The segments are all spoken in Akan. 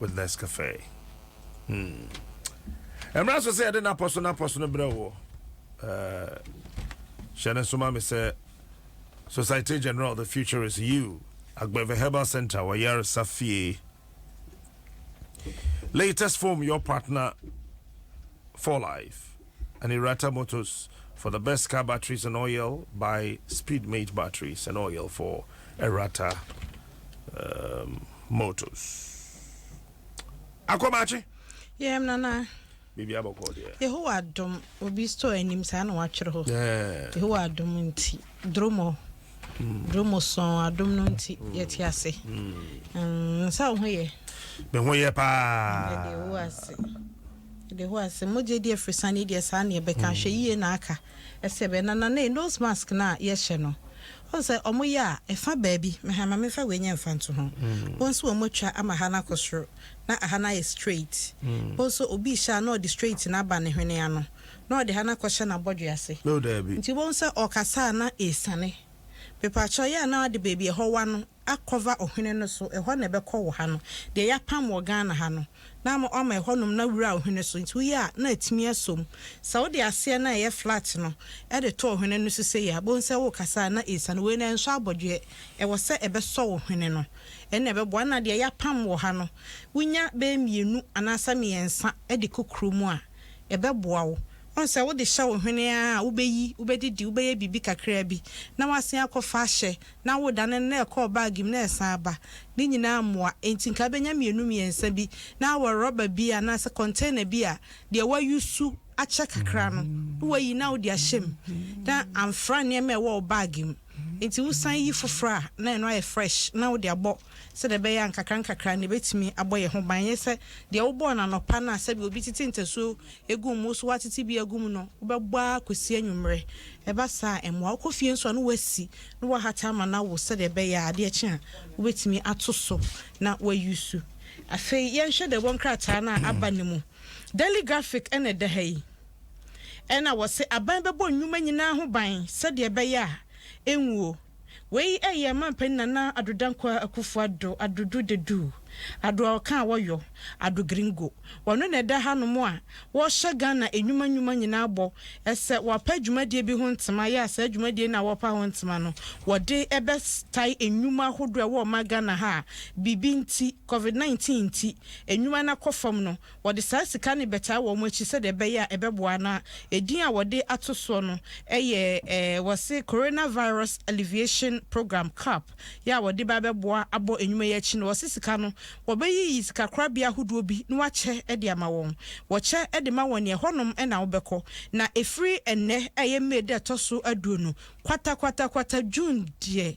with Nescafe. Hmm. Ɛmra so sɛ yɛde napɔ so napɔ so no brɛ wɔ. Hyɛ ne soma me sɛ Societe General the future is you. Agbeve Herbal Center wɔ Yaresa fie. Latest foam your partner for life. ne Rata Motors for the best car batteries and oil by Speedmate Batteries and Oil for Rata um, Motors. Akɔmakye. Yɛm nana. Biribi abɔkɔ deɛ. Yehowa adom obi store anim saa na watwerɛ hɔ. Yehowa adom nti dromo. Hmm. Dromo sɔn adom no nti hmm. yɛte ase. Hmm. Nsa wo ho yɛ. Me ho yɛ paa. Yɛde Yehowa ase. De hɔ a, sɛ mogya di afrisane deɛ saa ne ɛbɛka. Ahwɛyie na aka. Ɛsɛ bɛ. Na Nanae, nose mask no a yɛhyɛ no, wohu sɛ wɔn yɛ a, ɛfa baabi. Me ha, ma me mfa wei nyɛ mfa nto ho. Wo nso wɔn atwa ama ha no akɔ soro, na aha no ayɛ straight. Wo nso obi rehyɛ a na ɔde straight no aba ne hwene ano, na ɔde ha no akɔhyɛ n'abɔdwe ase. Nti wobɛhu sɛ ɔrekasa a na ɛresiane. Mepaakyɛw, yɛ a na wode baabi a ɛhɔ wa no akɔva ɔhwene no so, ɛhɔ na ɛbɛkɔ wɔ ha no, deɛ yɛapam wɔ Ghana ha no, na ama wɔama ɛhɔnom na wura ɔhwene so, nti woyɛ a na atumi asɔ mu. Sɛ wode aseɛ no a ɛyɛ flat no de to ɔhwene no so sei a, bohu sɛ wokasa a na ɛsiane. Wei no ɛnsɔ abɔdweɛ, ɛwɔ sɛ ɛbɛsɔ wo hwene no, ɛnna ɛbɛboa. Ɛnna deɛ yɛapam wɔ ha no, wonya bɛyɛ mmienu anaasɛ mmiɛnsa de kɔ kuro mu a, ɛbɛboa wo. Woahu sɛ wode hyɛ wo hwene ara a, wobɛyi, wobɛdidi, wobɛyɛ biribi kakraa bi, na woasan akɔfa ahyɛ na wodane no na ɛkɔɔ bag mu na ɛsan ba, ne nyinaa mmoa. Enti nka bɛnya mmienu mmiɛnsa bi na awɔ rɔba bi anaasɛ kɔntɛna bi a deɛ wɔayusu akyɛ kakra no na wɔayi na wode ahyɛ mu na amfra nneɛma a ɛwɔ wo bag mu. Enti wosan yi foforɔ a na ɛno ayɛ fresh na wode abɔ sɛdeɛ ɛbɛyɛ a nkakrankakra na ɛbɛtumi abɔ yɛn ho ban. Ɛnyɛ sɛ deɛ wobɔɔ no anɔpa no a sɛdeɛ obi tete ntasuo gu mu wo so woatete bi agu mu no wobɛbɔ ara kɔsi anwummerɛ. Ɛba saa a, ɛmmoa. Wokɔ fie nso a, na woasi na woahata ama no awo sɛdeɛ ɛbɛyɛ a adeɛ kye a, wobɛtumi ato so na woayusu. Afei yɛnhwɛ deɛ ɛwɔ nkrataa no a aba no mu. Daily Graphic na ɛda ha yi. Ɛnna wɔse, Aban bɛbɔ nnwuma nyinaa ho ban sɛdeɛ ɛbɛyɛ a ɛnwuo. Wei yɛ Manpanin Nana Addo Dankwa Akuffo Addo, Addo Du The Du, Addo a ɔka a wɔyɔ, Addo Gringo. Ɔno na ɛda hanom a wɔhyɛ Ghana nnwuma nnwuma nyinaa bɔ sɛ wɔapa dwumadie bi ho ntema yɛ a saa dwumadie no a wɔpa ho ntema no wɔde bɛtae nnwuma ahodoɔ a ɛwɔ ɔman Ghana ha a biribi nti, covid nineteen nti, nnwuma no akɔ fam no. Wɔde saa sika no bɛtaa wɔn akyi sɛdeɛ ɛbɛyɛ a ɛbɛboa na edin a wɔde ato soɔ no yɛ eh, wɔse Coronavirus Alleviation Programme, cap, yɛ a wɔde ba bɛboa abɔ nnwuma yi akyi no wɔse sika no wɔbɛyiyi sikakorabea ahodoɔ bi na wɔakyɛ de ama wɔn. Wɔkyɛ de ma wɔn neɛ ɛhɔnom na wobɛkɔ na ɛfiri ɛnnɛ a ɛyɛ May da ɛtɔ so aduonu, kwata kwata kwata, June deɛ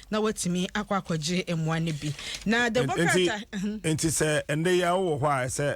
na watumi akɔ akɔgye mmoa no bi na the book krataa. nti sɛ ɛnde yɛ awɔ hɔ a ɛsɛ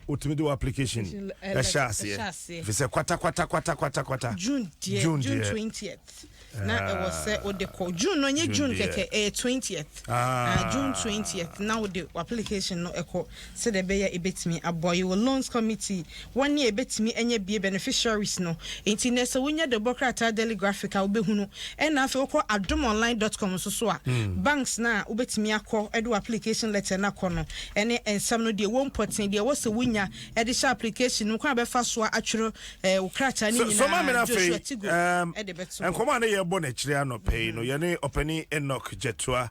wotumi de wɔ application ɛhyɛ aseɛ fi sɛ kwata kwata kwata kwata kwata june deɛ june deɛ twentieth na ɛwɔ sɛ wode kɔ june no nye june kɛkɛ ɛyɛ twentieth ah. ah june twentieth na wode application no ɛkɔ Sɛdeɛ ɛbɛyɛ a yɛbɛtumi aboa yi wɔ Loans Committee, wɔn a yɛbɛtumi anya bie, beneficiaries, no. Enti nnɛ sɛ wonya Dobɔ Krataa Daily Graphic a, wobɛhunu. Ɛna afei wokɔ adomonline dot com nso so a, banks no a wobɛtumi akɔ de w'application letter no akɔ no ne nsɛm no, deɛ ɛwɔ mu pɔtee, deɛ ɛwɔ sɛ wonya de hyɛ application no mu, kwan a wobɛfa so atwerɛ wo krataa no nyinaa, Soma me no afei. Joshua Tigo de bɛto hɔ. Nkɔmmɔ a na yɛrebɔ no akyire anɔpa yi no, yɛne Ɔpanin Enoch Gyatuah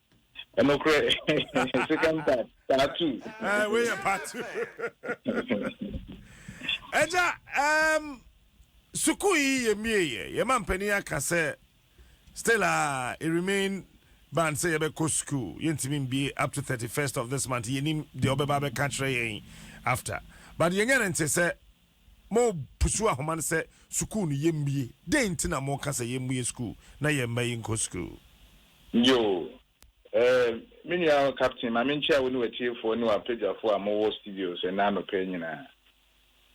Nokorɛ, second part, part two. Eh, wei yɛ part two. Ɛgya, um, sukuu yi yɛ mie yɛ, yɛ ma mpanin aka sɛ, still a, uh, it remain ban sɛ yɛbɛkɔ sukuu, yɛntumi mbie up to 31st of this month, yɛnim deɛ ɔbɛba abɛka kyerɛ yɛn after. But yɛnyɛ no nte sɛ, mopusuw ahoma no sɛ sukuu no yemmue. Dɛn nti na moreka sɛ yemmue sukuu na yɛn mma yi nkɔ sukuu? Yoo. Ɛɛ, me nua Captain, ma menkyia wo ne w'atiefo ne w'apɛdwafo a mowɔ studios ɛnnɛ anɔpa yi nyinaa.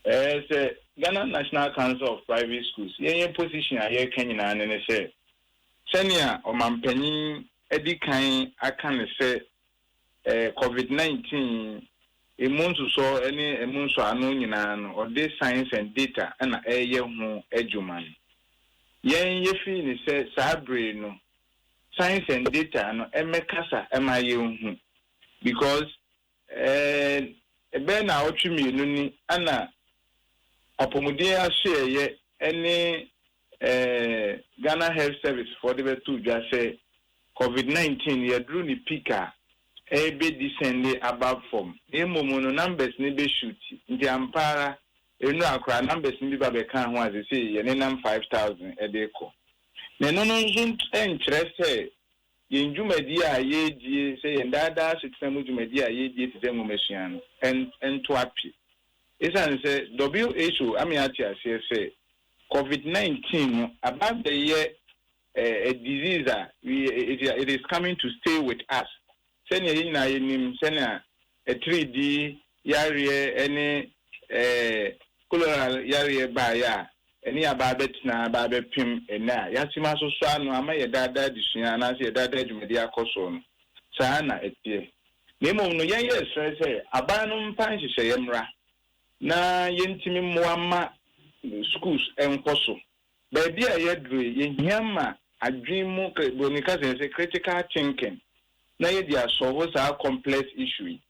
Ɛɛ, sɛ Ghana National Council of Private Schools, yɛn yɛn position a yɛreka nyinaa ne ne sɛ, sɛnea ɔmampanyin adi kan aka no sɛ Covid nineteen, emu nsosɔ ne emu nsɔano nyinaa no, ɔde science and data na ɛreyɛ ho adwuma no. Yɛn yɛfii no sɛ saa bere no science and data no mmɛkasa mma yɛnhu because eh, ɛbɛyɛ naawɔtwe mmienu ni na apɔmuden asoɛeɛ ne Ghana Health Service foɔ de bɛto dwa sɛ Covid nineteen yɛaduru ne peak a, ɛrebɛ descend aba fam. Na mmom no numbers no bɛ shoot. Nti ampa ara nnura koraa numbers no bi ba bɛkaa ho a sesei yɛnenam five thousand de rekɔ. Na ɛno no nso nkyerɛ sɛ yɛn dwumadie a yɛredie sɛ yɛn daa daa asetena mu dwumadie a yɛredie te sɛ nwomasua no nto ape. Esiane sɛ WHO ame ate aseɛ sɛ Covid nineteen no aba abɛyɛ a disease a we it it is coming to stay with us sɛnea yɛn nyinaa yɛnim sɛnea atiriddi yareɛ ne ɛɛ cholera yareɛ baeɛ a ɛne aba abɛtena aba abɛpem ɛnɛ a yɛatim asosɔ ano ama yɛ daa daa adesua anaasɛ yɛ daa daa dwumadie akɔ soɔ no saa na ɛteɛ na mmom no yɛn yɛsrɛ sɛ aban no mfa nhyehyɛeɛ mmra na yɛntumi mmoa mma schools nkɔ so. Baabi a yɛaduru yi, yɛhia ma adwene mu, Buroni ka sɛ yɛn sɛ critical thinking na yɛde asɔlvo saa complex issue yi.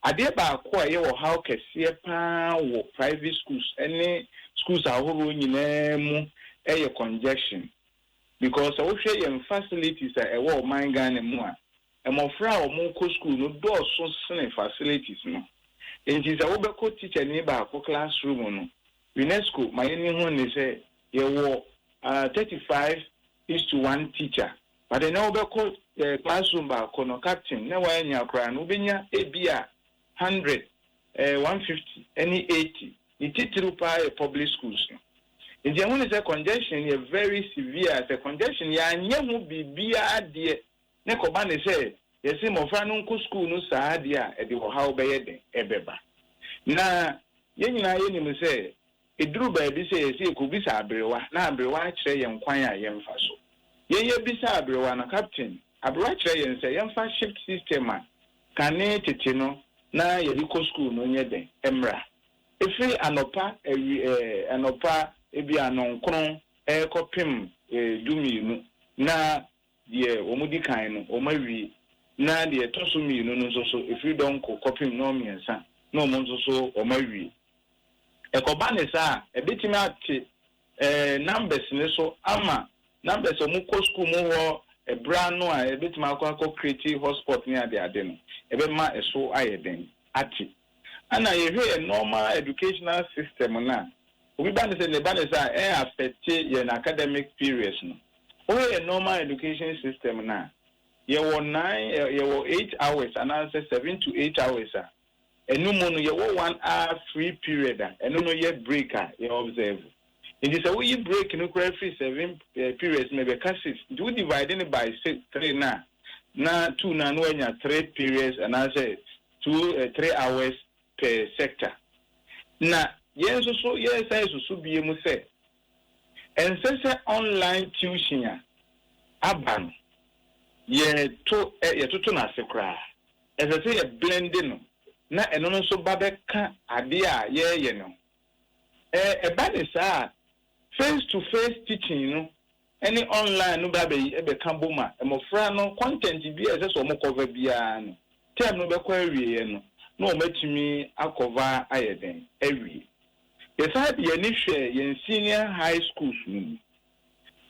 Adeɛ baako a ɛyɛ ɔhaw kɛseɛ pa ara wɔ private schools ne schools ahoroɔ nyinaa mu yɛ congestion. because sɛ wohwɛ yɛn facilities a ɛwɔ ɔman Ghana mu a, mmɔfra a wɔkɔ school no dɔɔso sene facilities no. Nti sɛ wobɛkɔ tikyani baako class room no, UNESCO ma yɛni ho nne sɛ yɛwɔ ah, thirty five is to one teacher. But ɛnnɛ wobɛkɔ eh, class room baako no, captain, na woannya koraa no, wobɛnya ebia hundred, ɛɛ one fifty ɛne eighty, ne titiriw paa yɛ public schools no. Nti ɛho ne sɛ congestion yɛ very severe a sɛ congestion yɛanyɛ ho biribiara deɛ ne kɔba ne sɛ yɛse mmɔfra no nko school no saa deɛ a ɛde ɔhaw bɛyɛ den ɛbɛba. Na yɛn nyinaa yɛnim sɛ Eduru baabi sɛ ɛsɛ sɛ yekobisa aberewa na aberewa akyerɛ yɛn kwan a yɛmfa so. Yɛn yebisa aberewa no, Captain, aberewa kyerɛ yɛn sɛ yɛmfa shift system a kane tete no na yɛde kɔ sukuu no nyɛ dɛn mmra? Ɛfiri anɔpa awi ɛ, anɔpa ebia nnɔnkron rekɔpem ɛ, dumienu na Deɛ wɔdi kan no, wɔawie, na deɛ ɛtɔ so mmienu no nso so, ɛfiri dɔnko kɔpem nnɔnmiɛnsa no wɔn nso so wɔawie. Ɛkɔba no saa a, ɛbɛtumi ate eh, numbers no so ama numbers a wɔkɔ sukuu mu hɔ ɛberɛ ano a ɛbɛtumi akɔ akɔ create hotspot ne adeade no, ɛbɛma ɛso ayɛ den ate. Ana yɛhwɛ yɛn normal educational system no a, obi ba ne sɛ ne ba ne sɛ a, ɛyɛ affect yɛn academic periods no. Wohwɛ yɛn normal education system no a, yɛwɔ nine, yɛwɔ eight hours anaasɛ seven to eight hours a, ɛno mu no yɛwɔ one hour free period a ɛno no yɛ break a yɛ observe. Nti sɛ woyi break no koraa firi seven periods no mu a, ɛbɛka six. Nti wo divide no by six, three no a, na two no a na woanya three periods anaasɛ two eh three hours per sector na yɛn nso so yɛresan susu bio mu sɛ ɛnsɛ sɛ online tuition a aba no yɛto eh yɛtoto no ase koraa ɛsɛ sɛ yɛ blend no na ɛno no nso ba bɛka adeɛ a yɛreyɛ no ho eh ɛba ne saa a face to face teaching no ne online no bɛ bɛka bom a, mmofra no content biara a ɛsɛ sɛ wɔn cover biara no, term no bɛkɔ awieɛ no na wɔn atumi akɔva ayɛ dɛn awie. Yɛsan de yɛn ani hwɛɛ yɛn senior high schools no mu.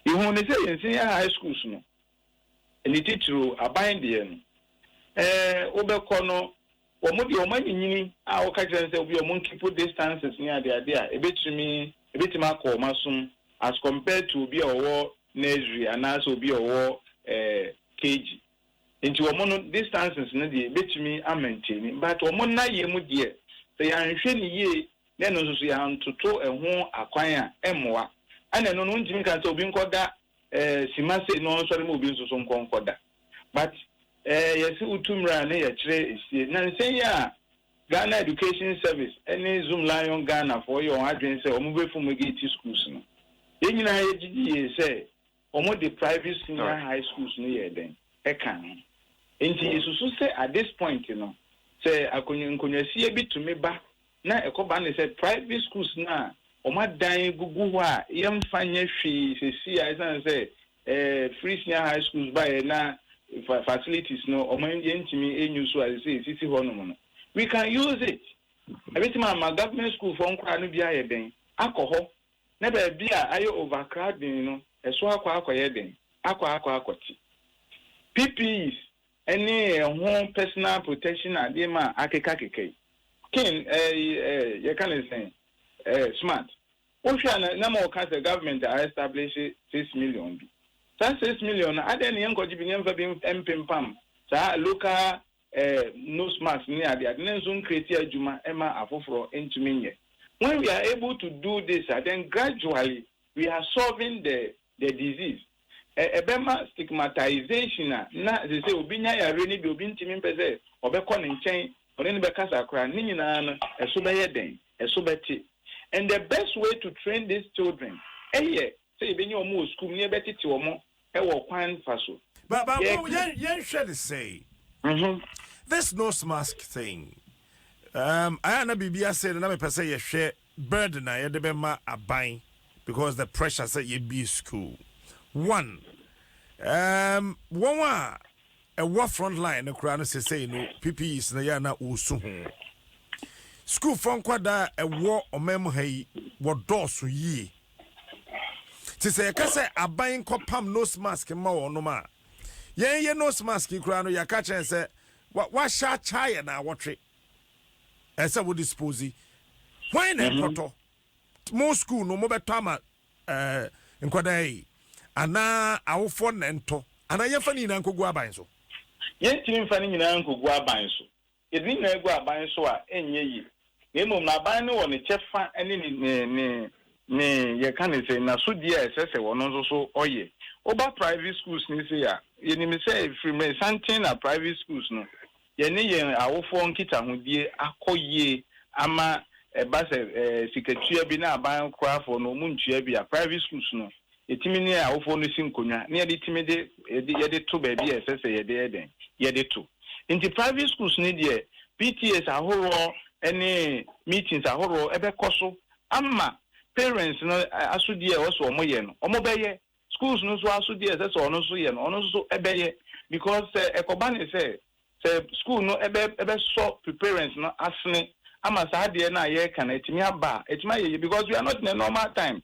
Yɛhuu no sɛ yɛn senior high schools no, ne titiriw aban deɛ no, eh, wobɛkɔ no Wɔn deɛ wɔn anyinyini a wɔka kyerɛ no sɛ obi a wɔn keep distances ne ade ade a ɛbɛtumi ɛbɛtumi akɔ wɔn asom as compared to obi a ɔwɔ nursery anaasɛ obi a ɔwɔ eh, KG. Nti wɔn no distances no deɛ ɛbɛtumi a maintain but wɔn nnayɛ mu deɛ sɛ yɛanhwɛ no yie na ɛno nso so yɛantoto ɛho akwan a ɛmmoa. Ɛna ɛno no wontumi nka sɛ obi nkɔda eh, sima sei na ɔnsɔre ma obi nso so nkɔ nkɔda. but eh yɛse wotu mmra a ne yɛkyerɛ esie na nsɛ yi a Ghana Education Service ɛne Zoom Lion Ghana foɔ yɛ wɔn adwene sɛ wɔn bɛ fumigate schools no yɛn nyinaa yɛgye di yie sɛ wɔn de private senior high schools no yɛɛ dɛn ɛka ho nti yɛsusu sɛ at this point no sɛ akonnwa nkonnwasie bi tumi ba na ɛkɔba ne sɛ private schools no a wɔn adan gugu hɔ a yɛmfa nyɛ hwee sɛsi a ɛsan sɛ Eh free senior high schools baeɛ na fa facilities no ɔmo an yɛntumi an use a sɛsɛ ɛsisi hɔ nom no we can use it ɛbɛtumi ama government school foɔ nkwadaa no bi ayɛ dɛn akɔ hɔ na baabi a ayɛ over crowding no ɛso akɔ akɔ yɛ dɛn akɔ akɔ akɔ te PPEs ɛne ɛho personal protection adeɛ ma akeka keka yi kin eh eh yɛka ne sɛn eh smart. Wo hwɛ a na na mo ka sɛ government a establish six million bi. Saa six million no adɛn ne yɛn kɔgye bi ne yɛn fa bi mpempam saa local eh nose mask ne ade ade ne nso ncreate adwuma ma afoforɔ ntumi nyɛ. When we are able to do this a then gradually we are solving the The disease. Ɛ, ɛbɛma stigmatization a na sesei obi nya yareɛ no bi a obi ntumi mpɛ sɛ ɔbɛkɔ ne nkyɛn, ɔne no bɛkasa koraa, ne nyinaa no, ɛso bɛyɛ dɛn? Ɛso bɛte. And the best way to train these children yɛ sɛ yɛbɛnya wɔn wɔ sukuu mu na yɛbɛtete wɔn wɔ kwan fa so. Ba, ba, Yɛ, wo, yɛn, yɛnhwɛ no sei, mhm. this nose mask thing, um, ɛyɛ a na biribi asɛe no, na mepɛ sɛ yɛhwɛ. Bɛɛde na yɛde bɛma aban because the pressure sɛ yɛbie school one um wɔn a ɛwɔ front line no koraa no sesei no PPEs no yɛ na wɔsu ho school fɔ nkwadaa a ɛwɔ ɔman mu ha yi wɔdɔɔso yie te sɛ yɛka sɛ aban nkɔpam nose mask ma wɔnom a yɛn yɛ nose mask yi koraa no yɛka kyerɛ sɛ wahyɛ akyɛ yɛ na awɔtwe ɛsɛ wo dispose hwan na mhm. ɛkɔtɔ mo school no mobɛtɔ ama eh, nkwadaa yi anaa awofoɔ na ɛntɔ anaa yɛmfa ne nyinaa nkɔgu aban so yɛntumi mfa ne nyinaa nkɔgu aban so yɛde ne nyinaa gu aban so a ɛnyɛ yie na mmom na aban no wɔ ne kyɛfa ne ne ne ne yɛka ne sɛ n'asodie a ɛsɛ sɛ wɔn nso so ɔyɛ woba private schools ne se a yɛnim sɛ ɛfiri mmerɛ santen na private schools no yɛne yɛn awofoɔ nkitahodie akɔ yie ama ɛba sɛ sikatua bi na aban korafoɔ no wɔn ntua bi a, private schools no, yɛtumi ne yɛn awofoɔ no si nkonnwa na yɛde tumi de yɛde to baabi a ɛsɛ sɛ yɛde yɛ dɛn? Yɛde to. Nti private schools no deɛ PTAs ahoroɔ ne meetings ahoroɔ bɛkɔ so ama parents no asodie a ɛwɔ sɛ wɔyɛ no wɔbɛyɛ Schools no nso aso deɛ ɛsɛ sɛ ɔno nso yɛ no ɔno nso bɛyɛ because sɛ ɛkɔba ne sɛ sɛ school no ɛbɛ ɛbɛsɔ preparents no asene ama saa adeɛ no a yɛreka no atumi aba a atumi ayɛ yie because we are not in a normal time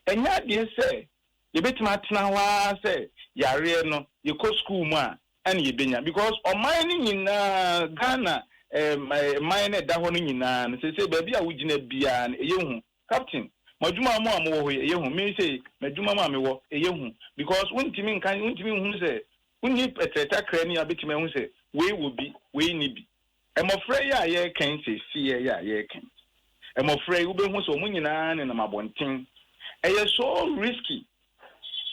ɛnyɛ adeɛ sɛ yɛbɛtumi atena hɔ ara sɛ yareɛ no yɛkɔ school mu a ɛna yɛbɛnya because ɔman no nyinaa Ghana ɛɛ ɛman no ɛda hɔ no nyinaa no seesei baabi a wogyina biara no ɛyɛ hu Captain, mo adwuma a mo a mowɔ hɔ yi, ɛyɛ hu. Me sei, m'adwuma mu a mewɔ, ɛyɛ hu. Because wontumi nka, wontumi nhunu sɛ, wonni ɛtrɛ takra ni a wobɛtumi ahu sɛ, wei wɔ bi, wei nni bi. Mmɔfra yi a yɛreka yi seesei yi a yɛreka yi, mmɔfra yi, wobɛhu sɛ wɔn nyinaa nenam abɔnten. Ɛyɛ so risky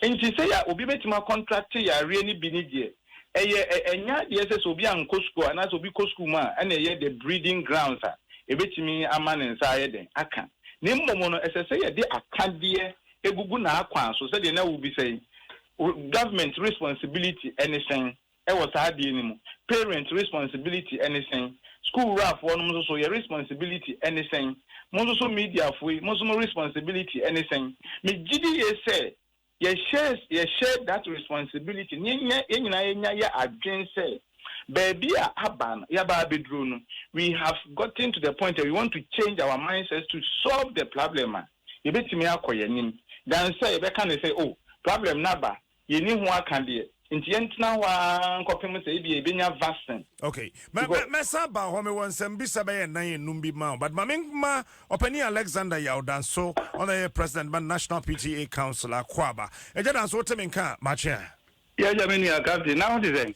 Ntsi sɛ yɛ a obi betumi akɔntrakte yareɛ no bi ne deɛ, ɛyɛ ɛ, ɛnyɛ adeɛ sɛ sɛ obi ankɔ sukuu a, anaasɛ obi kɔ sukuu mu a ɛna ɛyɛ the breeding grounds a ɛbɛtumi ama ne nsa ayɛ dɛn? aka. Na mmom no, ɛsɛ sɛ yɛde akadeɛ gugu n'akwan so, sɛdeɛ na wobisa yi, Government responsibility ne sɛn? wɔ saa adeɛ no mu? Parents responsibility ne sɛn? School wura foɔ nom nso so yɛ responsibility ne sɛn? Mo nso so media foɔ yi mo nso mo responsibility ne sɛn? Me gyidi yie sɛ yɛ share yɛ share that responsibility na yɛ nyɛ yɛ nyinaa yɛ nya yɛ adwen sɛ baabi a aba no yaba abɛduro no we have gotten to the point a we want to change our mindset to solve the problem a yɛbɛtumi akɔ yɛ nim than sɛ yɛbɛka ne sɛ oh problem no aba Yenni ho aka deɛ, nti yɛntena hɔ ara nkɔpem sɛ ebia yɛbɛnya vaccine. Okay, mɛ, mɛ, mɛsan aba hɔ. Mewɔ nsɛmbisa bɛyɛ nnan enum bi ma wo, but ma menma Ɔpanyin Alexander Yaw Danso, ɔno a ɛyɛ President ma National PTA Council, Akwaaba. Agya Danso, wote me nka a matwe a? Yɛ agya me nua, Captain, na wote sɛn?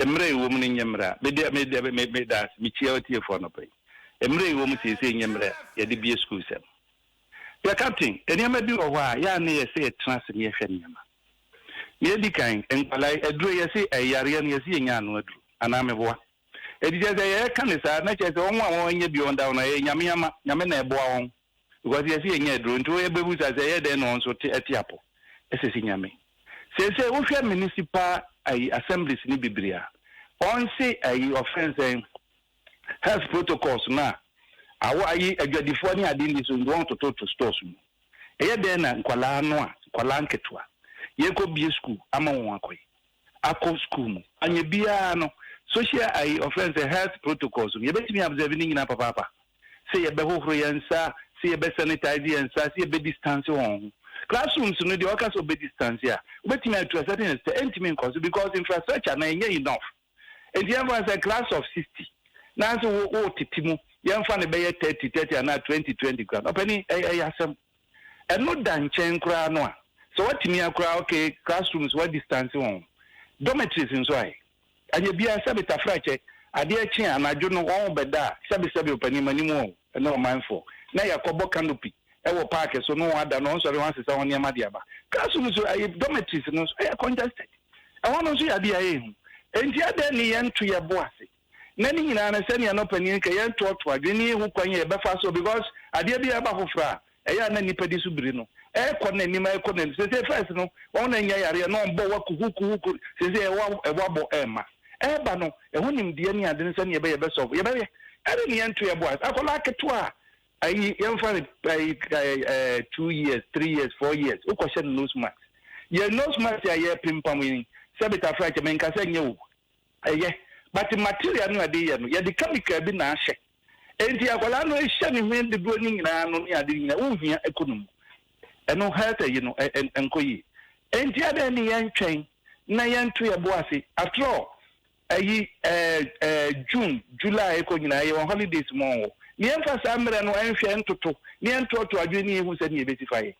Mmerɛ a ɛwɔ mu no nyɛ mmerɛ a, me deɛ, me deɛ, me, meda ase, mekyia ɔtiefoɔ anɔpa yi. Mmerɛ a ɛwɔ mu seesei nyɛ mmerɛ a yɛde bue sukuusɛm. Dear Captain, nneɛma bi wɔ hɔ a, yɛ a na yɛsɛ yɛtena ase na yɛhwɛ nneɛma. Nea edi kan, nkwadaa yi, aduro yi, yɛse ɛyɛ yareɛ no, yɛse yɛnya ano aduro, anaa meboa? Enti kyerɛ sɛ, yɛreka no saa, na kyerɛ sɛ, wɔn a wɔanya bi wɔn da hɔ no, ɛyɛ Nyame ama, Nyame na ɛboa wɔn. Because yɛse yɛnyɛ aduro nti yɛbɛbusa sɛ ɛyɛ dɛn na wɔn nso te te apo sɛ si nyame. Seesei wohwɛ municipal ayi assemblies no bebree a, wɔn se ayi wɔfrɛ no sɛn health protocols no a awɔ ayi adwadifoɔ ne ade nni so nti wɔn tototo stores mu. Ɛyɛ dɛn na nkwadaa no a nkwadaa nketewa yɛkɔbie school ama wɔn akɔ yi. akɔ sukuu mu. Anyɛ biara no, social ayi ɔfrɛ no sɛ health protocols no, yɛbɛtumi absɛve ne nyinaa papaapa, sɛ yɛbɛhohoro yɛn nsa, sɛ yɛbɛsanitize yɛn nsa, sɛ yɛbɛdistanse wɔn ho. Classrooms no deɛ ɔka sɛ ɔbɛdistanse a, wobɛtumi atu a certain extent, ɛntumi nkɔ so because infrastructure no ɛnyɛ enough. Nti yɛmfa no sɛ class of sixty, na sɛ wo, wotete mu, yɛmfa no bɛyɛ thirty thirty anaa twenty twenty koraa no, ɔpanin, ɛyɛ, ɛyɛ asɛm. Ɛno da nkyɛn koraa no a, sɛ woatumi a koraa a, okay, classrooms woadistanse wɔn. Dormitories nso ae? Anyɛ biara, sɛbe tafrakyɛ, adeɛ kye a, anadwo no wɔn bɛda a, sɛbe sɛbe ɔpanin m'anim o, ne ɔmanfoɔ, na yɛakɔbɔ canopy wɔ park so ne wɔn ada na wɔnsɔre wɔasesa wɔn nneɛma de aba. Classroom nso ae? Dormitories no nso, ɛyɛ congested. Ɛhɔ no nso yɛ adeɛ a ɛyɛ hu. Enti adɛn ne yɛnto yɛn bo ase na ne nyinaa no sɛnea na ɔpanin no ka yɛntoatoa adwene ho kwan a yɛbɛfa so because adeɛ bi a ɛba foforɔ a ɛyɛ a na nnipa di so biri no ɛrekɔ n'anim ɛrekɔ n'anim sese first no wɔn na nya yareɛ na wɔn bɔ wa kuhukuhuku sese ɛwɔ ɛwɔ abɔ ɛrema ɛreba no ɛho nimdeɛ ne ade no sɛnea ɛbɛyɛ ɛbɛsɔfo yɛbɛyɛ ɛde ne yɛnto yɛ boys akwadaa ketewa a ayi yɛmfa ne ayi ɛɛ two years three years four years wokɔhyɛ no nose mask yɛ nose mask a yɛpempam yi sɛ betafra kyɛ menka sɛ nyɛ o Ɛyɛ, but material no a ɛde yɛ no, yɛde chemical bi na ahyɛ. Enti akwadaa no hyɛ ne ho dodoɔ no nyinaa no ne ade nyinaa, wonhia ɛkɔ ne mu. Ɛno health ayi no, ɛ, ɛ, ɛnkɔ yie. Enti adɛn ne yɛntwɛn na yɛnto yɛn bo ase? After all, ayi, ɛɛ, ɛɛ, June, July rekɔ nyinaa, yɛwɔ holidays mu ɔɔ. Ne yɛmfa saa mmerɛ no nhwɛ, ntoto, na yɛntoɔtoɔ adwene na yɛhu sɛdeɛ yɛbɛsi fa yɛ.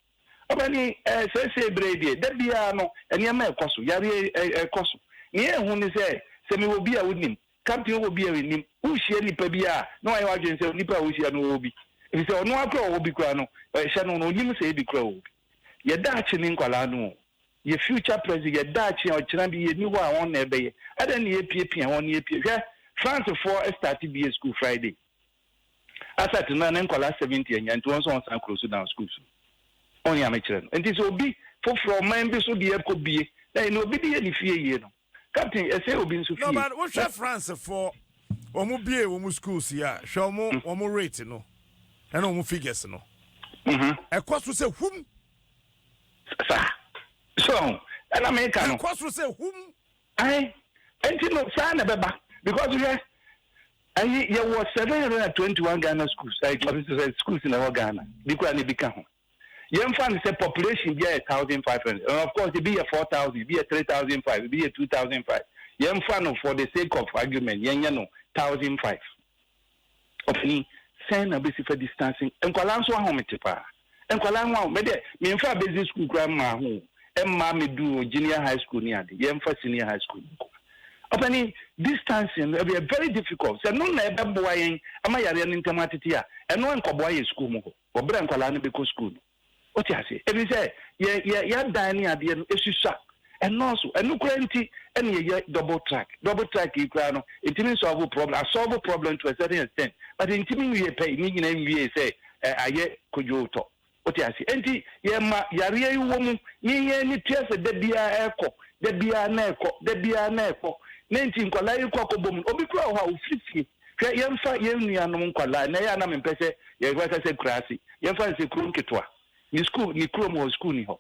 Ɔpaani, Ɛɛ, seesei berɛ yi deɛ, da biara no, nneɛma rekɔ so, yareɛ rekɔ so. Nea ɛyɛ hu ne sɛ, sɛ mewɔ bi a wonim, Kapten wowɔ bi a mennim. Wohyia nnipa bi a, na wayɛ w'adwene sɛ onipa a wohyia no ɔwɔ bi, efisɛ ɔno ara koraa ɔwɔ bi koraa no, ɛhyɛ no no, ɔnnim sɛ ebi koraa ɔwɔ bi. Yɛ daakye ne nkwadaa no o. Yɛ future present, yɛ daakye a ɔkyena bi yɛnni hɔ a wɔn na ɛbɛyɛ. Adɛn na yɛrepiapia wɔn, yɛpia, hwɛ, Francefoɔ starte bie sukuu Friday. Asat no na ne nkwadaa seventy anya nti wɔn nso wɔn san kuro Sudan school so. Wɔn nea me kyerɛ no nti sɛ obi foforɔ ɔman bi so deɛ kɔ bie na yɛ nea obi de yɛ ne fie yie no captain ɛsɛ obi nso fie. Norman wo hwɛ France foɔ wɔn bie wɔn schools yi a hwɛ wɔn wɔn rate no ɛna wɔn figures no ɛkɔ so sɛ hum. Saa so ɛna me ka no. Ɛkɔ so sɛ hum. Ayi nti no saa na ɛbɛba because hwɛ. Ayi yɛwɔ seven hundred and twenty one Ghana schools ɛɛ ɔsi sɛ sɛ schools na ɛwɔ Ghana bi kura na ebi ka ho yɛn fa ne sɛ population bi ayɛ thousand five hundred and of course ebi yɛ four thousand ebi yɛ three thousand five ebi yɛ two thousand five yɛn fa no for the sake of argument yɛn nyɛ no thousand five ɔfini sɛn na besi fa distancing nkwadaa nso ahomete paa. Nkwadaa ho a me deɛ menfaa basic school koraa mmaa ho o, ɛmmaa meduu junior high school ne ade, yɛmfa senior high school nko. Ɔpanin, distancing no ɛyɛ very difficult, sɛ ɛno na ɛbɛboa yɛn ama yareɛ no ntɛm atete a, ɛno ankɔboa yɛn sukuu mu hɔ wɔ berɛ a nkwadaa no bɛkɔ sukuu no. Wote aseɛ? Ɛfiri sɛ yɛn yɛn yɛadan ne adeɛ no susua, Ɛnnɔɔso. Ɛno koraa nti na yɛyɛ double track. Double track yi koraa no, ɛtumi nsɔlvo problem, asɔlvo problem to a certain extent, but ɛntumi nwie pɛi, ne nyinaa nwiee sɛ ayɛ kodwootɔ. Wote aseɛ? Ɛnti yɛma yareɛ yi wɔ mu, ne yɛn ani tua sɛ da biara ɛrekɔ, da biara na ɛrekɔ, da biara na ɛrekɔ, na ɛnti nkwadaa yi kɔ akɔbɔ mu no, obi koraa wɔ hɔ a ɔfiri fie. Hwɛ, yɛmfa yɛn nuanom nkwadaa, na ɛyɛ a na mempɛ sɛ yɛbɛka sɛ nkuraase, yɛmfa no sɛ kuro nketewa, ne sukuu, ne kurom hɔ sukuu nni hɔ.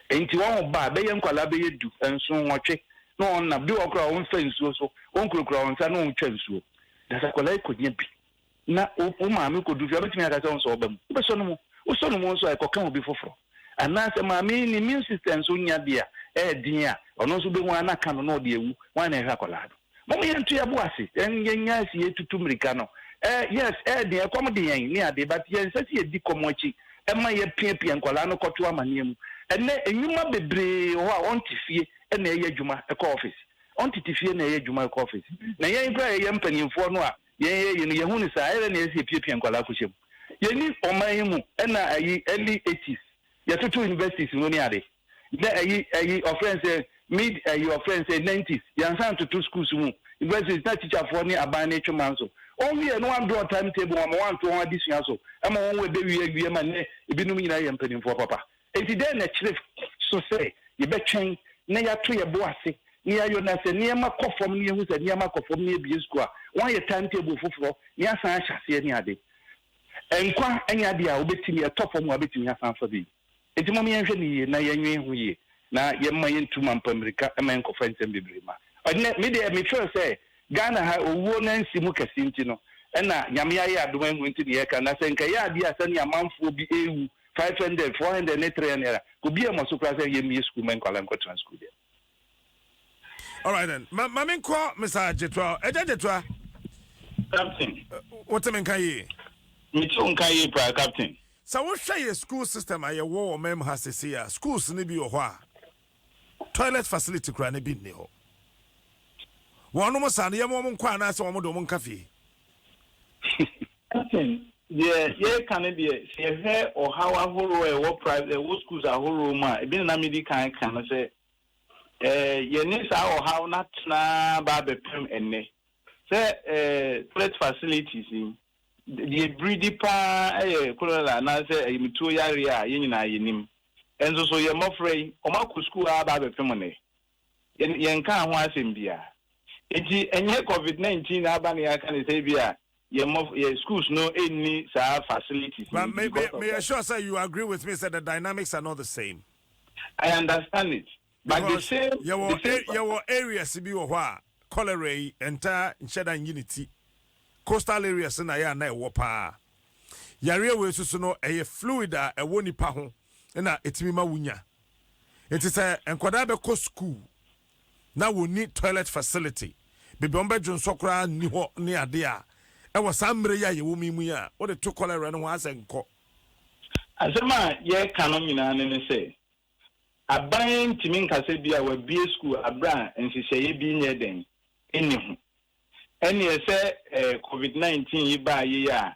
Enti wɔn ba a bɛyɛ nkwadaa bɛyɛ du, nson, nwɔtwe na wɔn nam. Bi wɔ hɔ koraa wɔn fa nsuo so, wɔn kurakura wɔn nsa na wɔn twa nsuo. Na sɛ akwadaa yi kɔ nya bi na wo wo maame kɔ du fie, ɔbɛtumi aka sɛ ɔnsɔ ɔba mu. Wobɛsɔ no mu, wosɔ no mu nso a ɛkɔka obi foforɔ. Anaa sɛ maame yi ne immune system nso nya bi a ɛyɛ den a, ɔno nso wobɛhu ara na aka no na ɔde awu. Hwan na ɛhwɛ akwadaa no? Mom yɛnto yɛbo ase yɛnya asi yɛtutu mirika no eh yes eh deɛ ɛkɔm de yɛn ne adeɛ but yɛnsɛ sɛ yɛdi kɔm akyi ɛma yɛpiapia nkwadaa no kɔto amaneɛ mu ɛnɛ nwuma bebree wɔ hɔ a ɔnte fie na ɛyɛ adwuma ɛkɔ office ɔntete fie na ɛyɛ adwuma ɛkɔ office na yɛn koraa yɛyɛ mpanimfoɔ no a yɛn yɛ yɛ no yɛhu no saa ɛyɛ na yɛsɛ yɛpiapia nkwadaa kɔhyɛ mu yɛni ɔman yi mu ɛna ayi early 80s yɛtoto universities mu ne ade dɛ ayi ayi ɔfrɛ no sɛ mid ayi ɔfrɛ no sɛ nineties yɛansan ntoto schools mu universities na teacherfoɔ ne aban no retwe man so ɔnwieɛ na wɔandrɔ time table wɔn ama wɔanto wɔn adesua so ma wɔn wɔ ɛbɛwie awie ma nnɛ ebinom nyinaa yɛ mpanimfoɔ papa enti dɛn na ɛkyerɛ so sɛ yɛbɛtwɛn na yɛato yɛ bo ase na yɛayɔ na sɛ nneɛma kɔ fam na yɛhu sɛ nneɛma kɔ fam na yɛbie school a wɔayɛ time table foforɔ na yɛasan ahyɛ aseɛ ne ade nkwa ɛnyɛ adeɛ a wobɛtumi ɛtɔ fam a wobɛtumi asan afa bi. Enti mom yɛnhwɛ no yie na yɛnwen ho yie na yɛmma yɛntu mampa mmirika mma yɛnkɔfa nsɛm bebree mma. Ɛnnɛ me deɛ me feel sɛ Ghana ha owuo no ansi mu kɛse nti no ɛna Nyame ayɛ adom ahu nti na yɛreka na sɛ nka ɛyɛ adeɛ a sɛnea amanfoɔ bi ɛrewu five hundred, four hundred ne three hundred a obi ammɔ so koraa sɛ yɛmmie sukuu mma nkwadaa nkɔtena sukuu deɛ All right then. Ma ma menkɔ Mr. Jetua. Ɛgya Jetua. Captain. Wote me nka yie? Mete wo nka yie paa Captain. Sɛ wohwɛ yɛ school system a yɛwɔ wɔ mam ha sese a schools no bi wɔ hɔ a toilet facility koraa no bi nni hɔ. Wɔnom saa no yɛma wɔn nkɔ anaasɛ wɔn de wɔn nka fie. Captain, deɛ yɛreka no deɛ, sɛ yɛhwɛ ɔhaw ahoroɔ a ɛwɔ private ɛwɔ schools ahoroɔ mu a, ebi na na medi kan ka no sɛ eh, yɛne saa ɔhaw no atena ba abɛpem ɛnnɛ. Sɛ eh, toilet facilities yi, deɛ ɛbiridi paa yɛ cholera anaasɛ ayamtuo yareɛ a yɛn nyinaa yɛnim. Nso so yɛn mmɔfra yi, wɔakɔ school ara ba abɛpem nnɛ. yɛn, yɛnkaa ho asɛm biara. Enti ɛnyɛ Covid nineteen na aba na yɛaka no sɛ ebia yɛn mmɔf, yɛn schools no nni saa facilities no But nti me, me, because of meyɛ that. sure sɛ you agree with me sɛ the dynamics are not the same. I understand it, but the Because same, yɛwɔ, the same. a- yɛwɔ areas bi wɔ hɔ a, cholera yi, ɛntaa nhyɛ da nnyi ne ti. Coastal areas na ɛyɛ a na ɛwɔ paa. Yareɛ wei nso so no, ɛyɛ fluid a ɛwɔ nipa ho na ɛtumi ma wonya. Nti sɛ nkwadaa bɛkɔ sukuu na wɔnni toilet facility, baabi a wɔbɛdwo nsɔ koraa nni hɔ ne adeɛ a, ɛwɔ saa mmerɛ yi a yɛwɔ mu yi mu yi a, wode to kɔlɛra no ho a sɛ nkɔ. Asɛm a yɛreka no nyinaa ne ne sɛ, aban ntumi nka sɛ bi a wɔabue sukuu aberɛ a nhyehyɛeɛ bi nyɛɛ dɛn? nni ho. Ɛnneɛ sɛ covid 19 yi baa yei a,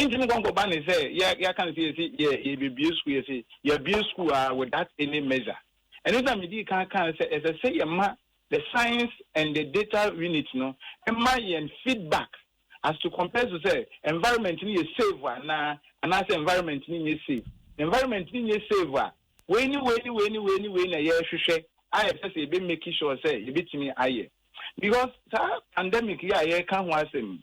Nti mo nkɔnkɔ ba ne sɛ yɛ yɛ aka no sɛ yɛ se yɛ yɛ bɛ bue school yɛ se yɛ bue school aa without any measure ɛno nti na me dii kan kaa sɛ ɛsɛ sɛ yɛ ma the science and the data unit no ma yɛn feedback as to compares to sɛ environment no yɛ save anaa anaa sɛ environment no nyɛ save environment no nyɛ save a wei ne wei ne wei ne wei ne wei na yɛ hwehwɛ a yɛ sɛ sɛ yɛ bɛ make sure sɛ yɛ bɛ tumi ayɛ because saa pandemic yɛ a yɛ ka ho asɛm yi.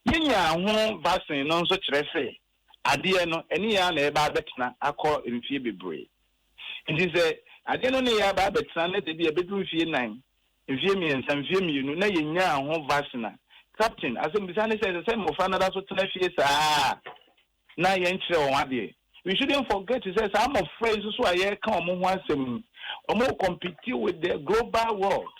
Yenya ho vaccine no nso kyerɛ sɛ adeɛ no ɛne yɛn ara na ɛreba abɛtena akɔ mfeɛ bebree. Nti sɛ adeɛ no ne yɛn aba abɛtena na sɛ ebia ɛbɛduru mfeɛ nnan, mfeɛ mmiɛnsa, mfeɛ mmienu na yɛnyaa ho vaccine a, Captain, asɛmmisa ne sɛ, ɛsɛ sɛ mmɔfra no da so tena fie saa ara? na yɛnkyerɛ wɔn adeɛ. We shouldn't forget sɛ saa mmɔfra yi nso so a yɛreka wɔn ho asɛm yi, wɔn compete with the global world.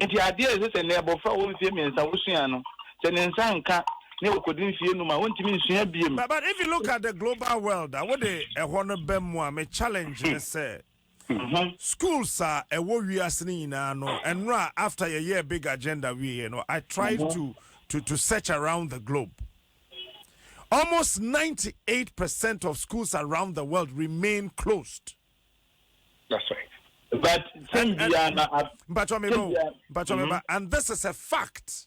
Nti adeɛ a ɛsɛ sɛ nnɛ abɔfra a ɔwɔ mfeɛ mmiɛnsa wosua no, sɛ ne nsa nka ne ɔkɔdi mfeɛ num a, ɔntumi nsua biom. But if you look at the global world a, wode ɛhɔ no bɛm mu a, me challenge ne sɛ. ho. Schools a ɛwɔ wiase no nyinaa no ɛno a after yɛyɛɛ big agenda wieɛ no I tried to to to search around the globe almost 98 percent of schools around the world remain closed. That's right. But and, and, and, and this is a fact.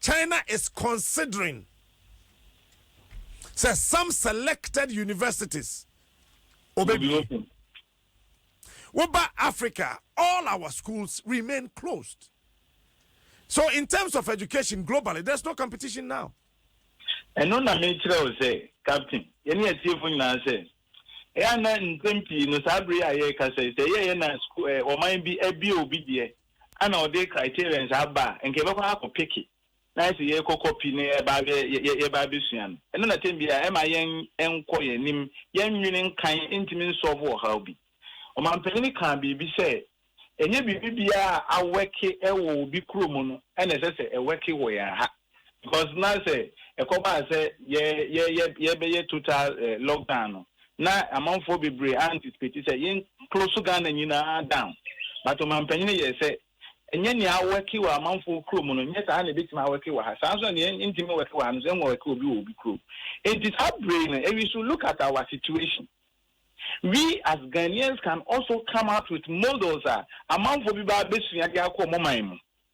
China is considering sɛ some selected universities obebue. Woba Africa a, all our schools remain closed. So in terms of education globally, there's no competition now. ɛno na mekyerɛ wo sɛ captain yɛne atiefo nyinaa sɛ ɛyɛ na nsɛm pii no saa bere a yɛrekasa yi sɛ ɛyɛyɛ na sku- eh, ɔman bi abie obi deɛ ana ɔde criterions aba a nka yɛbɛkɔ akɔ peke na ayɛ sɛ yɛrekɔ copy na yɛba yɛ yɛba abɛsua no. Ɛno na tɛm biara ɛmma yɛn nkɔ yɛn anim, yɛn nwene nkan ntumi nsɔlvo ɔhaw bi. Ɔmanpanin kaa biribi sɛ, Ɛnyɛ biribi biara a awɛke wɔ obi kurom no na ɛsɛ sɛ ɛwɛke wɔ yɛn ha. because na sɛ ɛkɔbaa sɛ yɛ yɛ yɛ yɛbɛyɛ total eh, lockdown no na amanfoɔ bebree anticipate sɛ yɛn close Ghana nyinaa down but ɔmampanin yɛ sɛ ɛnyɛ nea awɛke wɔ amanfoɔ kurom no nyɛ saa na ebetumi awɛke wɔ ha saa nso na nea ntumi wɛke wɔ ha no nso ɛnwɔ wɛke obi wɔ obi kurom nti saa bere no we should look at our situation we as Ghanaians can also come out with models a amanfoɔ bi ba abɛsua de akɔ ɔmo man mu.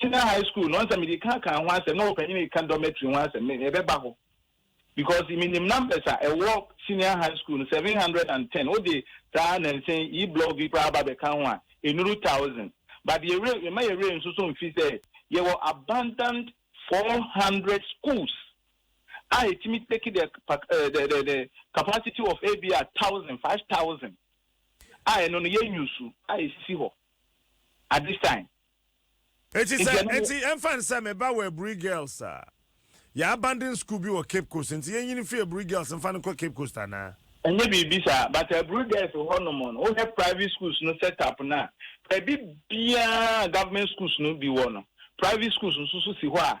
senior high school no ɔnsɛ mede ka kan ho asɛm na ɔpanyin ka dormitory ho asɛm me ɛbɛba hɔ because me nim numbers a ɛwɔ senior high school no seven hundred and ten o de saa nansen yi blog yi koraa ba bɛka ho a enuru thousand but yɛ were yɛma yɛ were nso so nfi sɛ yɛwɔ abundant four hundred schools a etimi take the the the the capacity of ebi a thousand five thousand a ɛno no yɛ nyusu a esisi hɔ. at this time. Eti sɛ eti ɛnfa ne sɛ me ba wɔ Aburi Girls a, yɛ abandon school bi wɔ Cape Coast nti yɛnyi no fi Aburi Girls nfa no nkɔ Cape Coast anaa? Ɛnyɛ biribi saa but Aburi Girls hɔ nom no wohwɛ private schools no set up no a baabi biara a government schools no bi wɔ no private schools nso so si hɔ a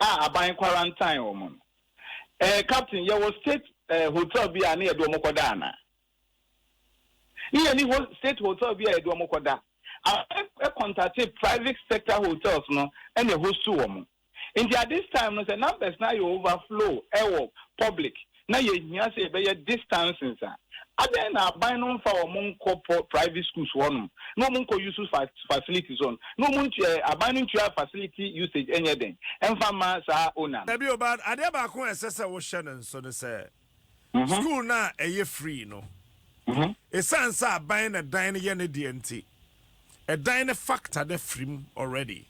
a aban kwarantan wɔn no. Eh, Captain, yɛwɔ state eh, hotel bi a ne yɛde wɔn kɔda ana? Ne yɛni ho state hotel bi a yɛde wɔn kɔda. Aban eh, contate private sector hotels no ɛna ɛhostu wɔn. Nti at this time no sɛ numbers no ayɛ overflow ɛwɔ public na yɛhia sɛ yɛbɛyɛ distancings a, adɛn na aban no mfa wɔn nkɔ private schools hɔ nom na wɔn nkɔ use facilities hɔ nom, na wɔn ntua, aban no ntua facility usage nyɛ dɛn mfa mma saa owner no. Bio, but adeɛ baako a ɛsɛ sɛ wohyɛ no nso ne sɛ, school no a ɛyɛ free no, ɛsiane sɛ aban na dan no yɛ ne deɛ nti, ɛdan no factor no afiri mu already,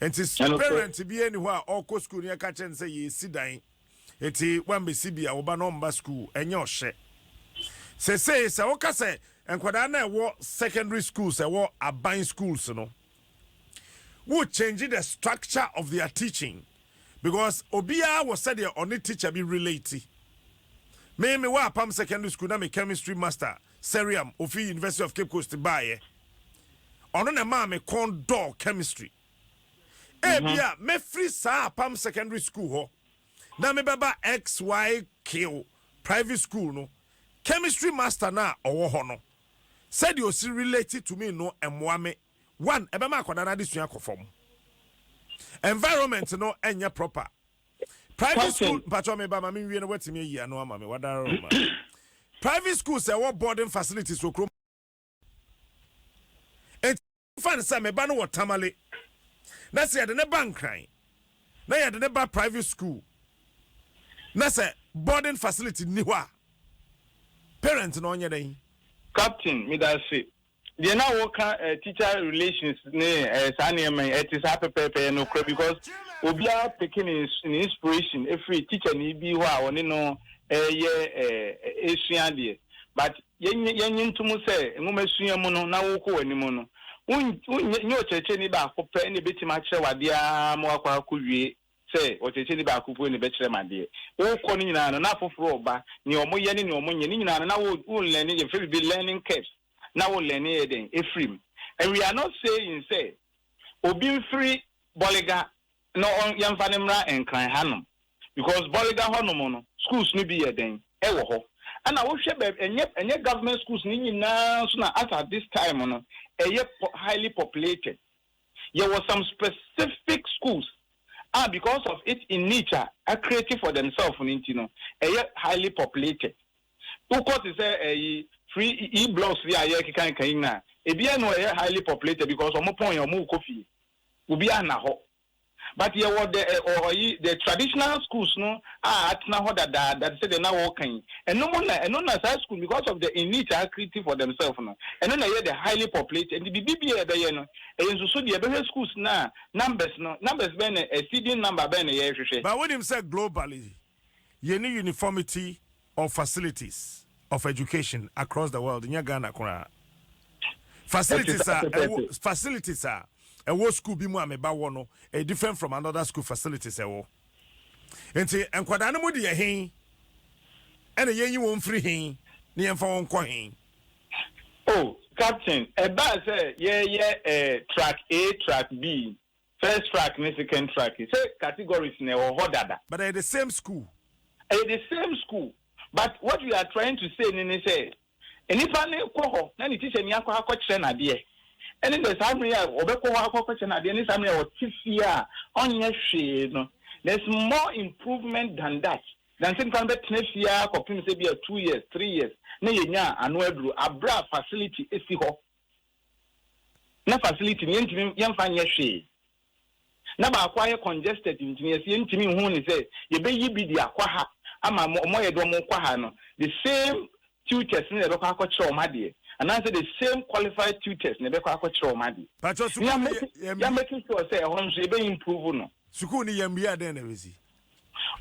nti parent biara nni hɔ a ɔkɔ school no yɛka kyerɛ no sɛ yɛresi dan Enti woammɛsi bi a wo ba no remma sukuu. Ɛnyɛ ɔhyɛ. Seesei sɛ woka sɛ nkwadaa no a ɛwɔ secondary schools, ɛwɔ aban schools no, wo change the structure of their teaching because obiara wɔ sɛdeɛ ɔne teacher bi relate. Me me wɔ apam secondary school na me chemistry master Seriam ofi University of Cape Coast baeɛ. Ɔno na ɛmaa me kɔn dɔɔ chemistry. Ebia mɛfiri saa Apam Secondary School hɔ na mebɛba XYK Private School no, Chemistry Master no a ɔwɔ hɔ no, sɛdeɛ ɔsi relate to me no mmoa me, one, ɛbɛma akwadaa no adesua akɔ fam, environment no nyɛ proper. Private school, mpakyɛw meba ma menwie na woatumi ayi ano ama me, woadara ma. Private schools a ɛwɔ boarding facilities wɔ kurom. Fa no sɛ me ba no wɔ Tamale na sɛ yɛde no ba Nkran na yɛde no ba private school na sɛ boarding facility nni hɔ a, parent no ɔnyɛ dɛn? Captain, Medase. Deɛ na woka eh, teacher relations ne eh, saa nneɛma yi, ɛte saa pɛpɛɛpɛ, ɛyɛ nokorɛ because obiara peke ne, ne inspiration ɛfiri teacher ni bi hɔ a ɔne no ɛyɛ eh, ɛsua adeɛ. But Yennye yennye nto mu sɛ nwomasua mu no na worekɔ w'anim no, wonn nyɛ ɔkyerɛkyerɛni baako pɛ na ebetumi akyerɛ wo adeɛ ara ma woakɔ akɔwie sɛ ɔkyerɛkyerɛni baako pue na ɛbɛkyerɛ me adeɛ. Worekɔ no nyinaa no, na afoforɔ reba, nea wɔyɛ ne nea wɔnyɛ, ne nyinaa no, na wo wolearne, yɛfrɛ biribi learning curves, na wolearne yɛ dɛn? Afiri mu. And we are not saying sɛ obi mfiri Bolga No ɔn yɛnfa no mmra nkran hanom because bɔrega hɔ nom no schools no bi yɛ dɛn ɛwɔ hɔ ɛna wo hwɛ bɛɛbi ɛnyɛ ɛnyɛ government schools no nyinaa nso na as at this time no ɛyɛ pɔ highly populated yɛ wɔ some specific schools a because of it in niche a a create for themselves no nti no ɛyɛ highly populated wo kɔ te sɛ ɛyi free e blocks bi a yɛ keka keka yi nyinaa ebi ɛno ɛyɛ highly populated because ɔmo pɔn yɛ ɔmo kɔ fie. Obiara nna hɔ. But yɛwɔ the ɛ ɔ ɔyi the traditional schools no a atena hɔ dadaada te sɛ deɛ na wɔreka yi. Ɛno mo na ɛno na saa school no because of the elite a wɔakriti for themselves no, ɛno na ɛyɛ the highly populated. Nti biribi biara a yɛbɛyɛ no, ɛyɛ nsusudeɛ. Yɛbɛhwɛ schools no a numbers no, numbers bɛn na exceeding number bɛn na yɛrehwehwɛ. But wonim sɛ globally, Yɛnni uniformity of facilities of education across the world, nyɛ Ghana koraa. Facilities a ɛwɔ facilities a ɛwɔ school bi mu a meba wɔ no, ɛyɛ different from another school facilities ɛwɔ. Nti nkwadaa no mu de yɛ hen ɛna yɛnyi wɔn mfiri hen na yɛmfa wɔn nkɔ hen? Oh, Captain, ɛbaa sɛ yɛyɛ eh, track A, track B. First track ne second track yi sɛ categories na ɛwɔ hɔ dada. But ɛyɛ the same school. Ɛyɛ the same school but what we are trying to say no ne sɛ nnipa no kɔ hɔ na ne tikyani akɔ akɔkyerɛ no adeɛ ɛne sɛ saa mmerɛ yi a ɔbɛkɔ hɔ akɔ akɔkyerɛ no adeɛ ne saa mmerɛ a ɔte fie a ɔnyɛ hwee no there is more improvement than that than sɛ nnipa no bɛtena fie a kɔpem sɛ bi a two years three years na yɛnya ano aduro aberɛ a facility si hɔ na facility no yɛntumi yɛmfa nyɛ hwee, na baako ayɛ congested nti no yɛse yɛntumi nhu no sɛ yɛbɛyi bi de akɔ ha ama wɔn a yɛde wɔn kɔ ha no, the same tutors no na yɛbɛkɔ akɔkyerɛ wɔn adeɛ anaasɛ the same qualified tutors na yɛbɛkɔ akɔkyerɛ wɔn adeɛ. Patro, sukuu no yɛ, yɛn. Yɛ make sure sɛ ɛhɔ nso yɛbɛ improve no. Sukuu no yɛn mia dɛn na ɛbɛsi?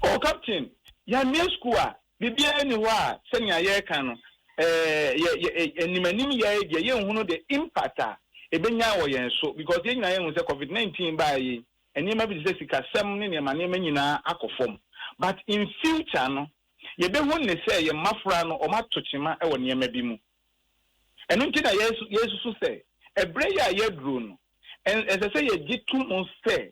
Oh, Captain, yɛn mia sukuu a, Biribiara nni hɔ a sɛnea yɛreka no, eh, yɛ, yɛ, anim anim yɛ ara deɛ yɛnhunu the impact a ɛbɛnya wɔ yɛn so because yɛn nyinaa yɛhu sɛ covid 19 baeɛ yi nneɛma bi te sɛ sikasɛm ne nneɛma nneɛma nyinaa akɔ fam but in future no yɛbɛhu ne sɛ yɛn mmafra no wɔn ato kyema wɔ nneɛma bi mu ɛno nti na yɛsu yɛsusu sɛ ɛberɛ yi a yɛaduro no ɛsɛ sɛ yɛgye to mu sɛ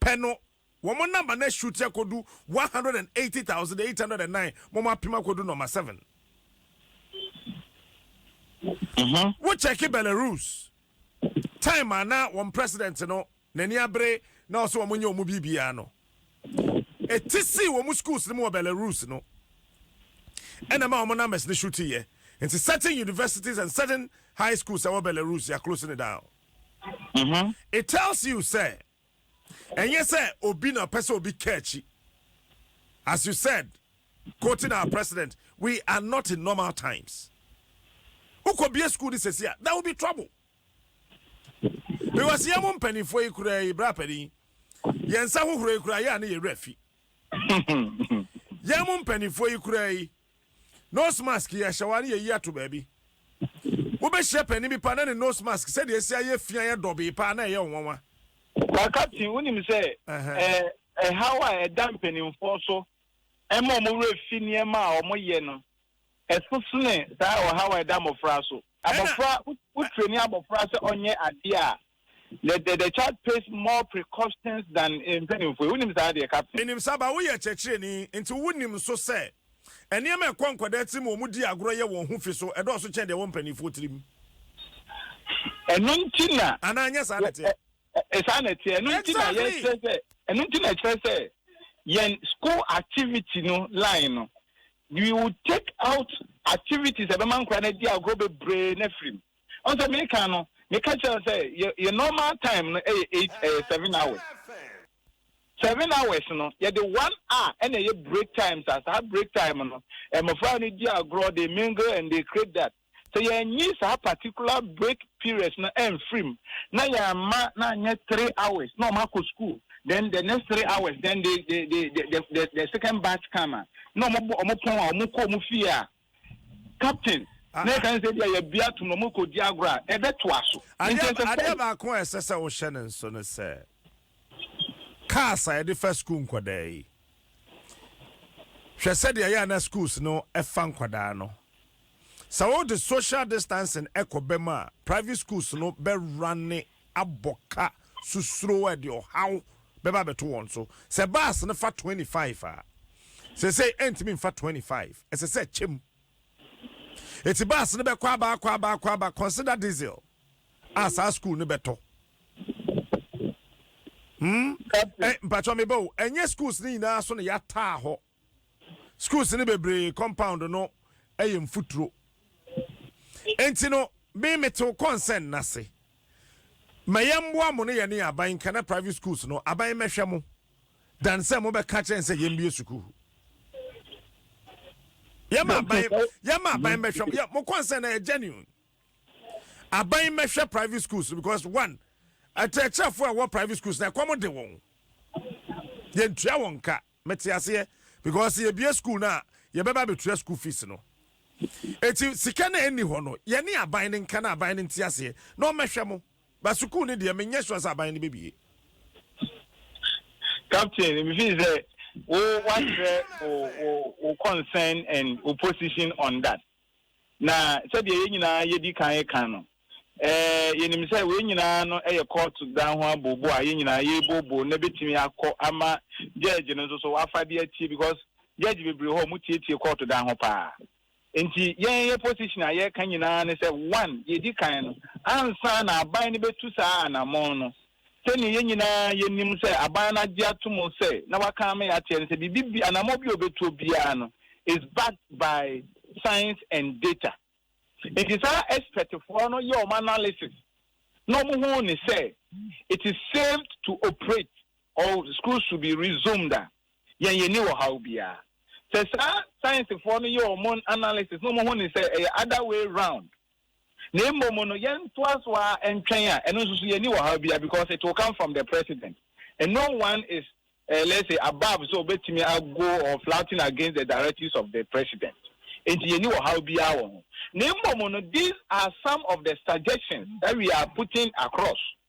pɛ no wɔn number no ashoot akɔdu one hundred and eighty thousand eight hundred and nine ma wɔn apem akɔdu number seven. Mhm. Wo check Belarus time a na wɔn president no n'ani abere na ɔsɛ wɔn nyɛ wɔn biribiara no eti sii wɔn schools no mu wɔ Belarus no ɛna ma wɔn numbers no shoot yɛ nti certain universities and certain high schools ɛwɔ Belarus yɛ close no down. Mm-hmm. It tells you sɛ ɛnyɛ sɛ obi na ɔpɛ sɛ obi ka akyi. As you said, quoting our president, we are not in normal times. Wokɔ bie school ni sɛsi a, there will be trouble. Because yɛn mo mpanimfoɔ yi kura yi bra panin, yɛn nsa hohoro yi kura yɛ a ne yɛ werɛ fi. Yɛn mo mpanimfoɔ yi kura yi. Nose mask yɛ hyɛ wo a ne yɛyi ato baabi. Wobɛhyia panin bi paa na ne nose mask sɛdeɛ ɛsi ayɛ fi ayɛ dɔbee paa na ɛyɛ wo nwanwa. Na Captain, wonim sɛ ɛhaw a ɛda mpanimfoɔ so ma wɔn werɛ fi nneɛma a wɔyɛ no, ɛso sene saa ɔhaw a ɛda mmɔfra so. Abɔfra, wotrɛni abɔfra sɛ ɔnyɛ adeɛ a, The the the child pays more precautions than mpanimfoɔ yi. Wonim saa adeɛ, Captain? Menim saa, but woyɛ kyerɛkyerɛni, nti wonim nso sɛ nneɛma a ɛkɔ nkwadaa tirim a wɔdi agorɔ yɛ wɔn ho fi so ɛdɔɔso kyɛn deɛ ɛwɔ mpanimfoɔ tirim. Ɛno nti na. Anaa nyɛ saa na ɛteɛ? Saa na ɛteɛ. Ɛno nti na yɛkyerɛ sɛ, ɛno nti na ɛkyerɛ sɛ yɛn school activity no line no, we will take out activities a ɛbɛma nkwadaa no adi agorɔ bebree no afiri mu. Ɔn sɛ me kan no me ka kyerɛ no sɛ yɛ yɛ normal time no ɛyɛ eight ɛyɛ seven hours. Seven hours no yɛ de one hour ɛna ɛyɛ break time saa saa break time no mmɔfra no di agorɔ they mingle and they create that. Sɛ yɛ nyi saa particular break periods no ɛnfiri mu na yɛ mma no anyɛ three hours na wɔn akɔ school then the next three hours then they they they the the the second batch come a na wɔn bɔ wɔn pɔn a wɔn kɔ wɔn fie a captain na ɛka ne sɛ ebi a yɛbi ato na wɔkɔdi agorɔ a ɛbɛtoa so. Adeɛ baako a ɛsɛ sɛ wohyɛ ne nso ne sɛ cars a yɛde fa sukuu nkwadaa yi hwɛ sɛdeɛ yɛ ana schools no ɛfa nkwadaa no sɛ wode social distancing ɛkɔ bɛm a private schools no bɛrane abɔ ka susuro a ɛde ɔhaw bɛba abɛto wɔn so. Sɛ bus no fa twenty five a, seesei ɛrentumi mfa twenty five, ɛsɛ sɛ ɛkyɛ mu. Enti bus no bɛkɔ aba, akɔ aba, akɔ aba. Consider diesel a saa school no bɛtɔ. Hmm? Ɛ eh, mpatsɔ meba o, ɛnyɛ schools no nyinaa so na yɛataa hɔ. Schools no bebree compound no yɛ mfuturo. Enti no, me metew concern no ase. Ma yɛmmoa mo ne yɛne aban nka na private schools no, aban mmɛhwɛ mo than sɛ mobɛka akyerɛ yɛn sɛ yɛmmue sukuu. Yɛma aban, yɛma aban mmɛhwɛ mo. Yɛ, mo concern na yɛ genuine. Aban mmɛhwɛ private schools no because one, akyerɛkyerɛfoɔ a ɛwɔ private schools na ɛkɔm de wɔn. Yɛntua wɔn ka. Mete aseɛ because sɛ yɛbue school no a yɛbɛba abɛtua school fees no enti sika no a ɛnni hɔ no yɛne aban no nka na aban no nte aseɛ na ɔmmɛhwɛ mo but sukuu no deɛ menyɛ sure sɛ aban no bɛbue. Captain, me feel sɛ wo wakyerɛ wo wo wo concern and wo position on that. Na sɛdeɛ yɛn nyinaa yɛdi kan reka no, yɛnim sɛ wei nyinaa no yɛ kɔɔto dan ho abooboo a yɛn nyinaa yɛrebooboo na ɛbɛtumi akɔ ama gyɛɛgye no nso so wafa de atie because gyɛɛgye bebree hɔ a wɔtietie kɔɔto dan ho pa ara. Nti yɛn yɛn position a yɛreka nyinaa ne sɛ one, yɛdi kan no, ansa na aban no bɛtu saa anammɔn no, Sɛnea yɛn nyinaa yenim sɛ aban no agye atom sɛ na wɔakan me akyerɛ no sɛ biribi bi, anammɔn bi a obetuo biara no is backed by science and data. Enti saa ɛspɛtfoɔ no yɛɛ wɔn analysis na wɔhuu no sɛ it is safe to operate or schools should be resumed a, yɛn yɛnni ɔhaw biara. Sɛ saa sciencefoɔ no yɛ wɔn analysis na wɔhu no sɛ ɛyɛ other way round na mmom no yɛntoa so ara ntwɛn a ɛno nso so yɛnni ɔhaw biara because it will come from the president and no one is uh, let's say above sɛ obetumi ago or flouting against the directives of the president nti yɛnni ɔhaw biara wɔ ho na mmom no these are some of the suggestions that we are putting across.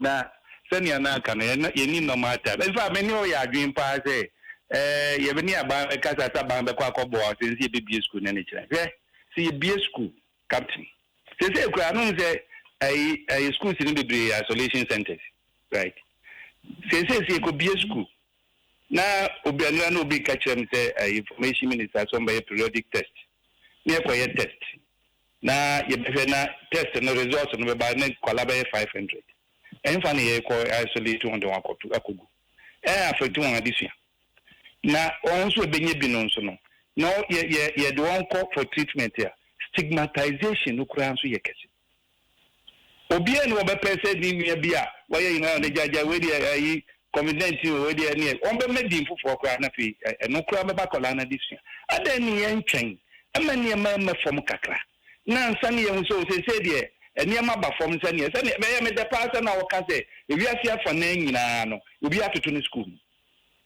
Na sɛnea na aka no, na yenni normal time. In fact, me ne wo yɛ adwene paa sɛ, eh, yɛne aban bɛkasa sɛ aban bɛkɔ akɔboa wo sen sɛ yebebue sukuu nnɛ ne kyerɛ. Hwɛ, sɛ yebue sukuu, Captain. Seesei koraa no, wohu sɛ ayi, ayi, schools no bebree yɛ isolation centers, right? Seesei sɛ yekobue sukuu, na obi, ɛnnora na obi reka kyerɛ me sɛ, eh, Information Minister, sɛ wɔbɛyɛ periodic test, na yɛkɔyɛ test. na yɛbɛhwɛ na test no results no bɛba na nkwadaa bɛyɛ five hundred. Ɛhefa na yɛrekɔ isolate wɔn de wɔn akɔto akɔgu? Ɛ affect wɔn adesua. Na wɔn nso a ɛbɛnya bi no nso no, na yɛ yɛ yɛde wɔn kɔ for treatment a, stigmatization no koraa nso yɛ kɛse. Obiara nni hɔ a ɔbɛpɛ sɛ ne nua bi a wayɛ nyinaa na ɔde gyaagyaa wei deɛ ayi covid nineteen o wei deɛ ɛneɛ wɔbɛma din foforɔ koraa na afei ɛno koraa bɛba akwadaa no adesua. Adɛn ne yɛntwɛn ma nneɛma rema fam kakra na ansa na yɛahu sɛ o seesei deɛ nneɛma aba fam sɛdeɛ sɛdeɛ ɛyɛ me dɛ paa sɛ na wɔka sɛ ewiase afanan nyinaa no obiara atoto ne sukuu mu.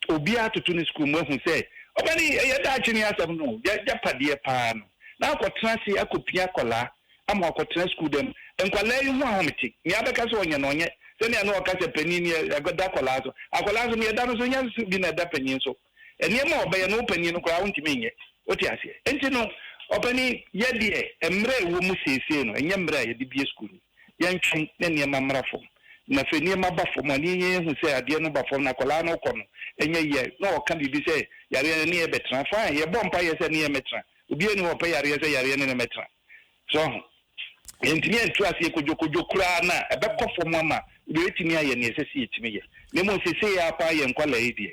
Obiara toto ne sukuu mu ahu sɛ ɔba no yi, ɛyɛ daakye ne asɛm no o, y'agyapadeɛ paa no, na akɔtena ase akɔpia akwadaa ama wakɔtena sukuu dan mu. Nkwadaa yi ho ahomete, nea abɛka sɛ ɔnyɛ no ɔnyɛ, sɛnea na wɔka sɛ panin no yɛ da akwadaa so, akwadaa nso nea ɛda no so nyɛ so bi na ɛda panin so. Nneɛma a ɔbɛyɛ no wo panin no koraa wontumi nyɛ, wote aseɛ? Enti no, ɔpanin, yɛ deɛ mmerɛ a ɛwɔ mu seesei no, ɛnyɛ mmerɛ a yɛde bue sukuu no. yɛntwe na nneɛma mmra fam. Na sɛ nneɛma ba fam a, na yɛnya yɛhu sɛ adeɛ no ba fam na akwadaa no rekɔ no, ɛnyɛ yie a, na ɔreka biribi sɛ yareɛ no ne yɛ bɛtena. Fine, yɛbɔ mpaeɛ sɛ ne yɛ mmɛtena. Obiara nni hɔ a ɔpɛ yareɛ sɛ yareɛ ne no mmɛtena. So woahu? Yɛntumi antu aseɛ kodwokodwo koraa no a, ɛbɛkɔ fam ama yɛatumi ayɛ deɛ ɛsɛ sɛ yɛtumi yɛ. Na mmom seesei ara paa yɛn nkwadaa yi deɛ,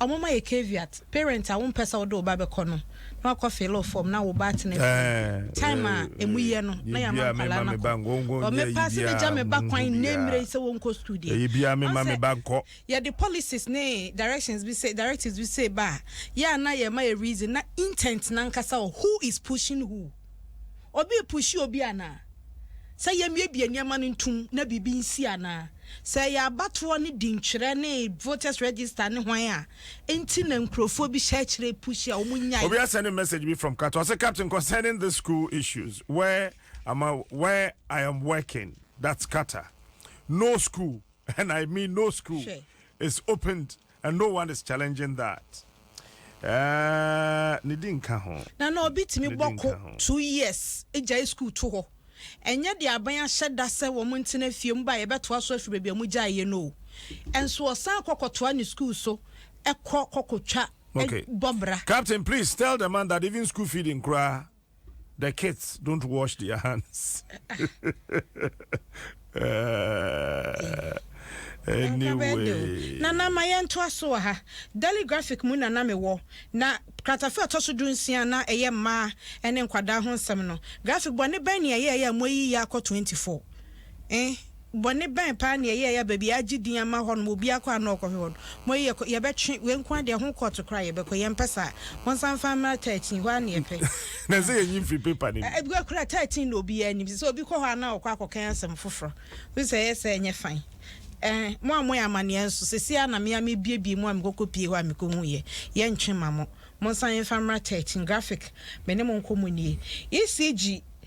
Ɔmo ma yɛ caveat, parent a wompɛ sɛ wode wo ba bɛkɔ no na wakɔ filo fɔm na wo ba atena fie. Time a ɛmu yɛ no na yɛama nkwadaa no akɔ. Ɔ mepaa sɛ mɛgya me ba kwan nnɛ mmerɛ yi sɛ ɔnkɔ sukuu deɛ. Ɔn sɛ yɛde policies ne directions bi sei, directives bi sei ba a, yɛ a na yɛma yɛ reason na intent no ankasa ɔ who is pushing who. Obi repushi obi anaa? Sɛ yɛmmiebie nneɛma no ntom na biribi nsi anaa? Sɛ ɛyɛ abatoɔ ne dintwerɛ ne voters register ne hwan a nti na nkurofoɔ bi hyɛ akyire pushi a wɔn nnyae. Obi a sending message bi from Qatar ɔse captain concerning this school issues where am I where I am working that's Qatar no school and I mean no school is opened And no one is challenging that ɛɛɛɛ ne di nka ho. Na na obi tumi bɔ ko two years gyae sukuu to hɔ. Ɛnyɛ deɛ aban ahyɛ da sɛ wɔn ntena fie mu ba a yɛbɛtoa so afiri baabi a wɔgyaeɛ no o. Nso ɔsan kɔ kɔtoa ne sukuu so kɔ kɔkɔtwa bɔ bra. Captain please tell the man that even school feeding koraa The kids don't wash their hands. anyway. Na na ma yɛn to aso wɔ ha. Daily Graphic mu na na me wɔ. Na kratafe ɔtɔ so du nsia na ɛyɛ mmaa ɛne nkwadaa ho nsɛm no. Graphic bɔ ne bɛn ne ɛyɛ ɛyɛ a mo ayi yɛ akɔ 24. Eh. Bɔne bɛn paa na yɛyɛɛ a baabi a yɛagye din ama hɔ no obiara kɔ a na ɔrekɔhwɛ hɔ no? Mo yi yɛkɔ, yɛbɛtwe, wei nko ara deɛ ho kɔɔto koraa a yɛbɛkɔ, yɛmpɛ saa. Monsan mfa mmra thirteen, hɔ ara na yɛpɛ. Na ɛsɛ yɛnyi mfiri paper no mu. Ɛbi hɔ koraa a thirteen na obiara nim. Sɛ obi kɔ hɔ a na ɔkɔ akɔkan asɛm foforɔ. Wohu sɛ ɛyɛ saa a ɛnyɛ fine. Ɛɛ, mo a moyɛ amanneɛ nso, seesei ara na me ara merebuebue mu a mekɔkɔpie hɔ a mekɔhuiɛ. Yɛntwe mma mo. Monsan mfa mmra thirteen. Graphic, me ne mo nkɔmmɔ nie. ECG.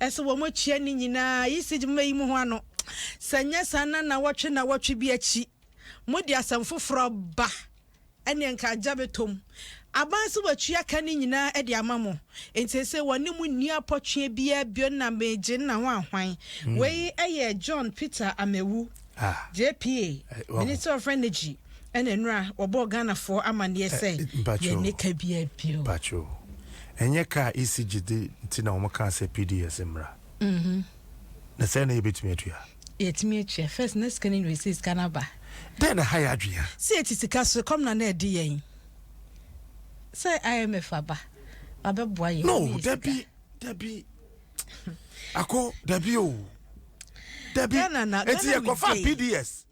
Ɛsɛ wɔkyia ne nyinaa. Yisij mma eyi mu ho ano. Sɛ ɛnyɛ saa na nnawɔtwe nnawɔtwe bi akyi mode asɛm foforɔ ba ɛneɛ nka agya bɛtɔ mu. Aban se watua ka no nyinaa de ama mo. Enti seesei wɔne mo nni apɔtweɛ biara bio na meegye nna ho ahwan. Wei yɛ John Peter Amewu. Ah. JPA, Eh, wahu. Minister of Energy ɛna nnora wɔbɔɔ Ghanafoɔ amaneɛ sɛ Eh, mpakyɛw. yɛnni ka biara bio. Pacho. Ɛnyɛ ka a EC gye de nti na wɔn kaa sɛ PDS mmra. Na sɛn na yɛbɛtumi atua? Yɛtumi atua. First, na sika no nyɛ sɛ sika no aba. Dɛn na ɛha yɛ adwene a? Sɛ yɛte sika so, ɛkɔm na na ɛde yɛn. Sɛ IMF aba, wabɛboa yɛn. No, Yɛyɛ sika. dabi. dabi ako dabi o dabi eti yɛ kɔfa pds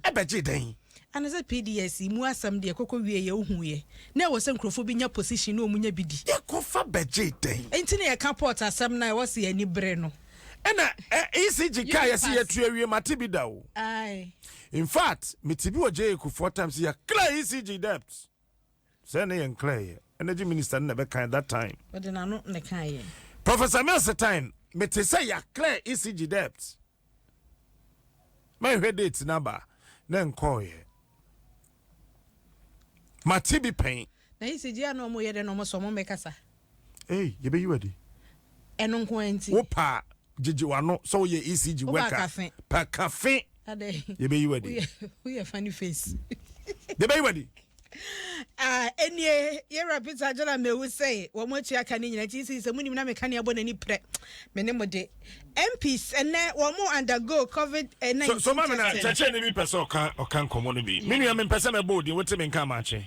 ɛbɛgye mm. dɛn. ana sɛ pds mu asɛm deɛ kɔkɔ wie yɛ ohu yɛ na ɛwɔ sɛ nkurɔfoɔ bi nya position na wɔn nya bi di. yɛ kɔfa bɛgye dɛn. nti na yɛ ka port asɛm na ɛwɔ sɛ yɛ ani bere no. ɛna ecg kaa yɛ si yɛ tu awie ma ti bi da o. in fact mi ti bi wɔ jay kufuor times yɛ clear ecg debt. Sɛ ne yɛ nklɛ yɛ. Energy minister no na ɛbɛ kan that time. Ɔde n'ano na ɛka yɛ. Professor Milstein, me te sɛ yɛ clear ECG debt. Mɛ hwɛ date n'aba na nkɔɔ yɛ. Ma ti bi pɛn. Na ECG a na ɔmo yɛ dɛ na ɔmo sɛ ɔmo mɛ kasa. Ei, yɛbɛyi wo adi. Ɛno nko ara nti. Wo pa a, gyegye w'ano sɛ woyɛ ECG worker. Pa kafe. Yɛbɛyi wo adi. Woyɛ funny face. Yɛbɛyi wo adi. Ah, ɛnie, yɛwura Peter Agyala Mewu sɛ wɔn atua ka ne nyina nti sɛ sɛ monim na meka ne abɔ n'ani prɛ me ne mo de MPs ɛnɛ wɔn mo undergo covid 19 so, so ma me na kyɛkyɛ ne bi pɛ sɛ ɔka ɔka nkɔmmɔ no bi me nua mempɛ sɛ mɛbɔ odin wote me nka amakye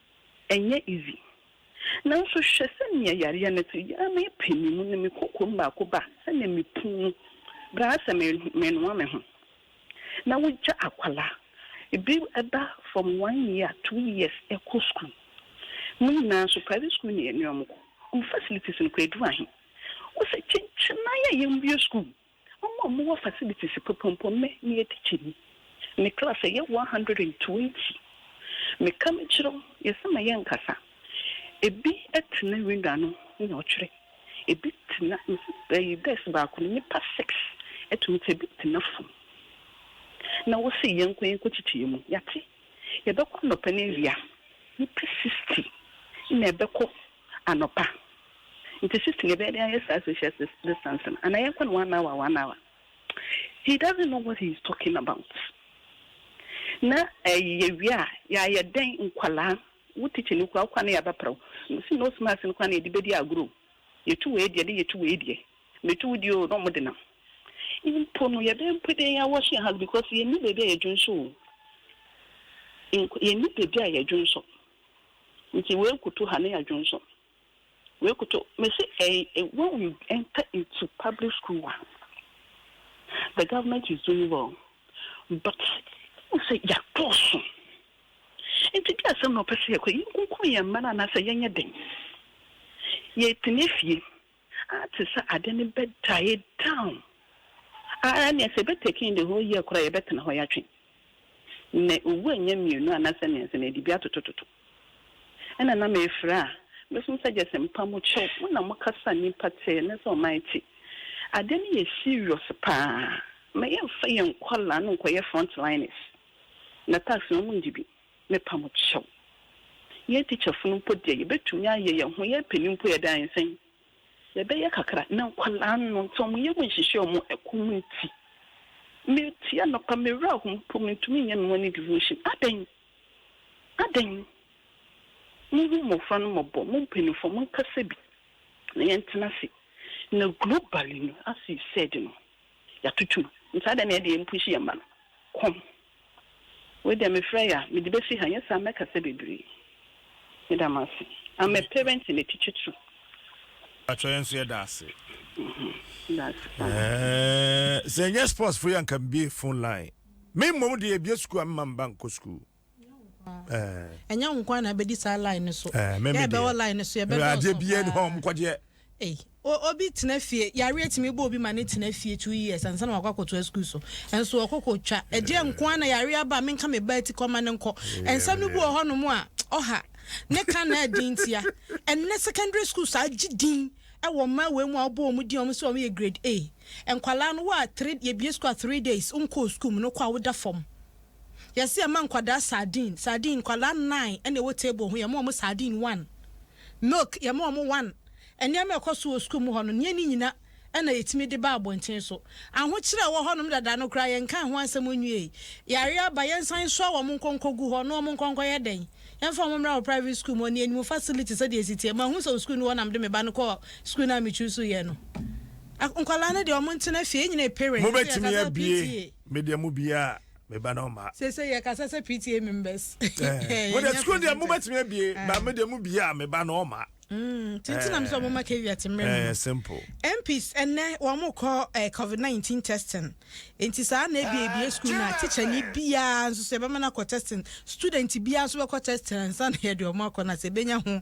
Ɛnyɛ easy. Nanso hwɛ sɛnea yareɛ no te. Yaa me pɛ me mu na me kokoam baako ba sɛnea me pun mu bra sɛ me me noa me ho. Na wo gya akwadaa ebi ɛba from one year two years ɛkɔ school mo nyinaa nso private school na yɛne ɔmo kɔ ɔmo facilities no koraa ɛduru ahe. Wo sɛ kyenkyenae a yɛn bue school Wɔn a wɔwɔ facilities pɔpɔmpɔm me meyɛ tikyani. Me class yɛ one hundred and twenty. Me ka me kyerɛw yɛ sɛ ma yɛ nkasa. Ebi tena wing ano na ɔtwerɛ. Ebi tena ɛyi desk baako no nnipa six tumi tena ebi tena fam. Na wo se yɛ nkɔ yɛ nkɔ kyekye yɛ mu. Yɛate yɛbɛkɔ anɔpa na awia. Nnipa sixty na ɛbɛkɔ. anɔpa nti shift na yɛbɛyɛ de ayɛ saa social distance no anaa yɛnkɔ no one hour one hour he doesn't know what he is talking about na ɛyi yɛwie a yɛayɛ dɛn nkwadaa wo tikyi no kura wokwa no yɛabɛprɛ wo si nose mask no kwan na yɛde bɛdi agorɔ yɛtu wei deɛ de yɛtu wei deɛ metu wo deɛ o na ɔmode nam mpo no yɛbɛyɛ mpo dɛn yɛawɔhye ha because yɛnni baabi a yɛdwonso o yɛnni baabi a yɛdwonso Nti wei koto ha ne yɛadwonsɔ wei koto mese ɛɛ when we enter into public school wa the government is doing well but wosɛ yɛadɔɔso nti bi asɛm na ɔpɛ sɛ yɛkɔ yɛnkunkun yɛn mma no anaasɛ yɛnyɛ den yɛtena fie a te sɛ ade no bɛ die down ara nea sɛ ɛbɛ take in the whole year koraa yɛbɛ tena hɔ yatwe na owu anya mmienu anasɛ mmiɛnsa na yɛde bi atoto toto ɛna na mɛ ɛfira a mɛ sum sɛ gyɛsɛ mpa mo kyɛw mo na mo kasa nipa tee ne sɛ ɔman te ade no yɛ serious paa mɛ yɛn fa yɛn nkɔla no nkɔyɛ front liners na tax no ɔmo ngye bi. Mepa mo kyɛw. Yɛn tikyafo no mpo deɛ, yɛbɛtumi ayɛ yɛn ho yɛn panin mpo yɛde ayɛ sɛn? Yɛbɛyɛ kakra, na nkwadaa no nti wɔn yam nhyehyɛ wɔn ɛkɔm nti, metie anɔpa, me werɛ ahow mpo, mentumi nyɛ me morning devotion. Adɛn? Adɛn? Monhu mmɔfra no mmɔbɔ, mo mpanimfoɔ monkasa bi na yɛntena ase. Na globally no, as you said no, yɛatoto mu, nti adɛn na yɛde yɛn mpushi yɛn mma no? Kɔm. Wei deɛ mefrɛ ya mede bɛsi ha nyɛ saa mɛkasa bebree meda mo ase I'm a parent and a teacher too. Mpakyɛw yɛn nso yɛda ase. Sɛ ɛnyɛ sports fo yɛ anka mbie phone line. Me mmom deɛ ebie sukuu a mma mba nkɔ sukuu. Ɛnyɛ wo nkoa na abɛdi saa line no so. Yɛ bɛwɔ line no so yɛbɛdɔɔso paa. Adeɛ biara ni hɔ a ɔmo kɔgyeɛ. Ei, o, obi tena fie, yareɛ tumi bɔ obi ma no tena fie two years ansa na wakɔ akɔtoa sukuu so. Nso ɔkɔ kɔtwa. Ɛdeɛ nko ara na yareɛ aba a menka me ba ati kɔ ma no nkɔ. Nsɛm no bi wɔ hɔnom a, ɔha. Ne ka na ɛden ntia. Ɛnnɛ secondary schools agye din wɔ mmaa wei mu a wobɔ wɔn din a wɔn sɛ wɔyɛ grade A. Nkwadaa no, wo a three, yɛbue sukuu a three days wonkɔɔ sukuu mu no, wokɔ a woda fam. Yɛse yɛma nkwadaa sardine, sardine, nkwadaa nnan ɛna ɛwɔ table ho, yɛma wɔn sardine one, milk yɛma wɔn one, nneɛma ɛkɔ so wɔ sukuu mu hɔ no, neɛ ne nyina ɛna yɛtumi de ba abɔnten so. Ahokyerɛ ɛwɔ hɔ nom dada no koraa yɛnkaa ho asɛm nwiei. Yareɛ aba, yɛnsan nsoa wɔn nkɔ nkɔgu hɔ, na wɔn nkɔ nkɔyɛ dɛn? Yɛmfa wɔn mmra wɔ private sukuu mu hɔ no, yɛnim facility sɛdeɛ ɛsi teɛ. Mahu sɛ wo sukuu no hɔ na mede me ba no kɔɔ sukuu no a me choose yɛ no. Nkwadaa no deɛ wɔn ntena fie, yɛn nyina yɛ parents, nti yɛkasa PTA. Me deɛ mo bia me ba na ɔma. Sese yɛ kasa sɛ PTA members. Eh, mo deɛ sukuu deɛ mo bɛtumi abie, eh. ba me deɛ mo bia me ba na ɔma. Mm, tintin na mo sɛ eh. ɔmo ma caveat mmerɛ mu. Eh, simple. MPs ɛnɛ wɔn mo kɔ eh, COVID nineteen testing. Nti saa na ebi ebi sukuu na teacher ni biara nso sɛ ɛbɛma na kɔ testing. Student biara nso bɛkɔ testing ansa na yɛ deɛ ɔmo akɔ na sɛ ebenya ho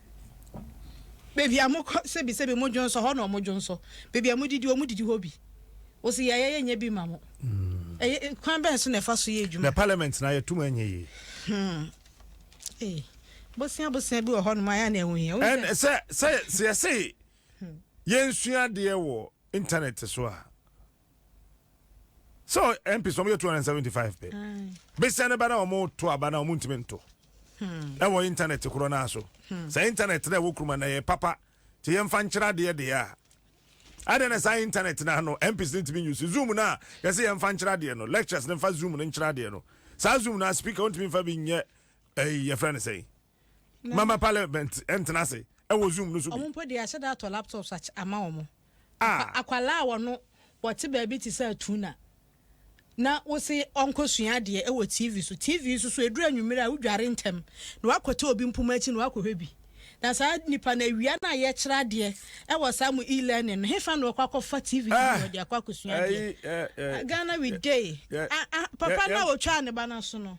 Baabi a mokɔ sɛbisɛbi mo dwonsɔ hɔ na ɔmo dwonsɔ, baabi a modidi ɔmo didi hɔ bi. Wose yɛayɛ yɛnyɛ bi mma mo. Ɛyɛ kwan bɛn so na ɛfa so yɛ adwuma? Na parliament no a yɛto mu ɛnyɛ yie? Hmm. Ei. Bosea bosea bi wɔ hɔ nom a ɛyɛ a na ɛho hia. Wohu sɛ. Sɛ sɛ sɛ yɛse yɛnsua adeɛ wɔ internet so a. sɛ mps wɔn yɛ two hundred seventy five pɛ besia ne ba na wɔn to aba na wɔn ntumi nto ɛwɔ intanɛt korɔ naa so sɛ intanɛt na ɛwɔ kuruma na yɛ papa te yɛn fa nkyerɛ adeɛ deɛ a adɛ na saa intanɛt na ano mps ne ntumi nyusi zoom na yɛsɛ yɛn fa nkyerɛ adeɛ no lectures ne fa zoom ne nkyerɛ adeɛ no saa zoom na speaker wɔn ntumi nfa bi nyɛ ɛyi yɛfrɛ ne sɛyi. mama parliament ntena ase ɛwɔ zoom no so bi. wɔn mpo de ahyɛ da atɔ laptops akyɛ ama wɔn ah. akwalaa wɔ no wɔte baabi te sɛ atuna na wose ɔnkɔsua adeɛ ɛwɔ tv so tv so so ɛduru anwummerɛ a wodware ntɛm na wakɔte obi mpoma akyi na wakɔhwɛ bi na saa nipa no awia no a yɛkyerɛ adeɛ ɛwɔ saa mu e-learning no hefa na ɔkɔ akɔfa tv no ah. wɔde akɔ akɔsua adeɛ eh, eh, eh. ghana we day ah, papa no a ɔtwaa ne ba no so no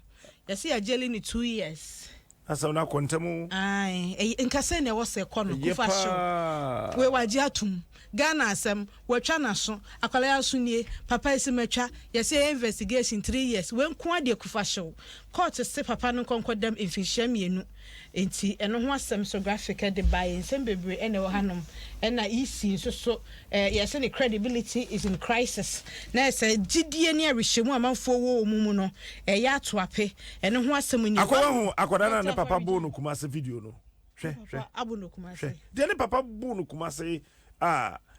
Yɛse yɛ gyeli no two years. Asɛm no akɔ ntɛm o. Ae ɛy nka sɛnea ɛwɔ sɛ ɛkɔ no Ɛyɛ kufa hyew wei paa. wagye atom Ghana asɛm watwa naso akwadaa yi aso nie papa yi se matwa yɛse yɛyɛ investigation three years wei nkoaa deɛ kufa hyew court se papa no nkɔ nkɔdam mfinhyia mmienu Enti ɛno ho asɛm nso graphic de bae. Nsɛm bebree na ɛwɔ hanom. Ɛna EC nso so, eh, yɛse ne credibility is in crisis. Na ayɛ sɛ gyidie ne awerehyɛmu a amanfoɔ wɔ wɔ mu mu no ɛyɛ ato ape. Ɛno ho asɛm ni. Akɔ wahu akɔda no a ne papa boo no kumase video no? Hwɛ, hwɛ, hwɛ. Deɛ ne papa boo no kumase a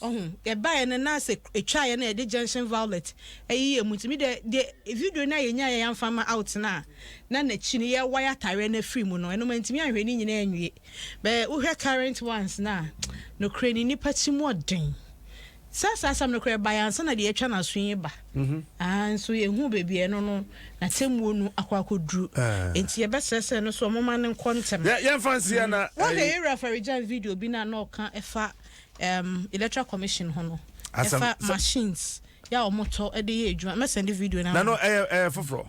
Ɔho yɛbaeɛ no na sɛ ɛtwaeɛ na yɛde junction violet ɛyi yɛ mu nti me deɛ deɛ video no a yɛnyaeɛ yɛamfa ma out no a na n'akyi no yɛ wire atareɛ no afiri mu no ɛno mantumi anhwɛ ne nyinaa anwie bɛ wohwɛ current ones no a nokorɛ ni nnipa ti mu ɔden sɛ saa asɛm no korɛ baeɛ ansa na deɛ atwa n'aso yi ba mhm. ah, nso yɛhu baabi ɛno no na tɛmuo no akɔ akɔduru eh. nti yɛbɛsrɛ sɛ no so ɔmoma no nkɔ ntɛm yɛmfa nseɛ na mhm. wohwɛ yɛwura faregyan video bi no a na ɔka ɛfa um, electoral commission ho no ɛfa machines yɛ a wɔtɔ de yɛ adwuma mɛsɛnde video no na no ɛyɛ ɛyɛ foforɔ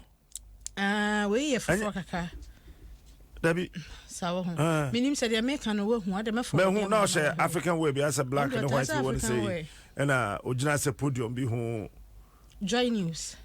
ah, wei yɛ foforɔ kakra dabi saa wɔ ho ah. menim sɛ deɛ meka no wahu adɛ mɛfo mahu na ɔhyɛ african way bi asɛ black ne white bi wɔ no sɛ ɛna ɔgyina sɛ podium bi ho Joy News.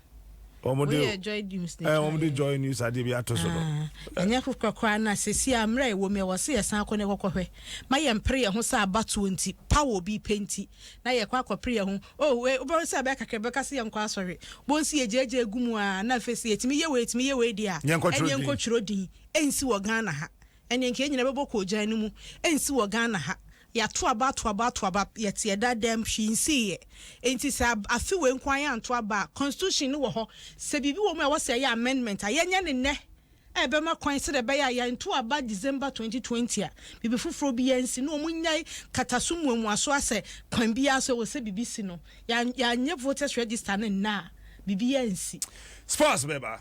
wɔn de yɛ Joy News ne twa yɛ. wɔn de Joy News adeɛ bi ato so no. Ah, ɛnyɛ korakora na sisi a mmerɛ ɛwɔ mu yɛ wɔ se yɛ san kɔ ne kɔkɔ hwɛ ma yɛ mpere yɛ ho sɛ abatoɔ nti pa wɔ obi pɛ nti na yɛ kɔ akɔ pere yɛ ho oh wei wobɛhu sɛ ɛbɛyɛ kakra bɛka se yɛ nkɔ asɔre wɔn si yɛ gyagya egu mu a na afei sɛ yɛtumi yɛ wei yɛtumi yɛ wei deɛ a ɛne nkɔ twerɛ din ɛnsi wɔ Ghana ha ɛne nka yɛ nyina bɛbɔ kɔɔgyan no mu ɛnsi wɔ Ghana ha Yɛato aba ato aba ato aba, yɛte ɛda dɛm, hwee nsiiɛ. Enti sɛ afe wei nko ara yɛanto aba a, Constitution no wɔ hɔ. Sɛ biribi wɔ mu a ɛwɔ sɛ yɛyɛ amendment a, yɛnyɛ no nnɛ a ɛbɛma kwan sɛdeɛ ɛbɛyɛ a yɛanto aba December twenty twenty a, biribi foforɔ biara nsi, na wɔnnyae kataso mmuamuaso a sɛ kwan biara so ɛwɔ sɛ biribi si no, yɛanyɛ voters register no nnɛ a, biribiara nsi. Sports bɛba.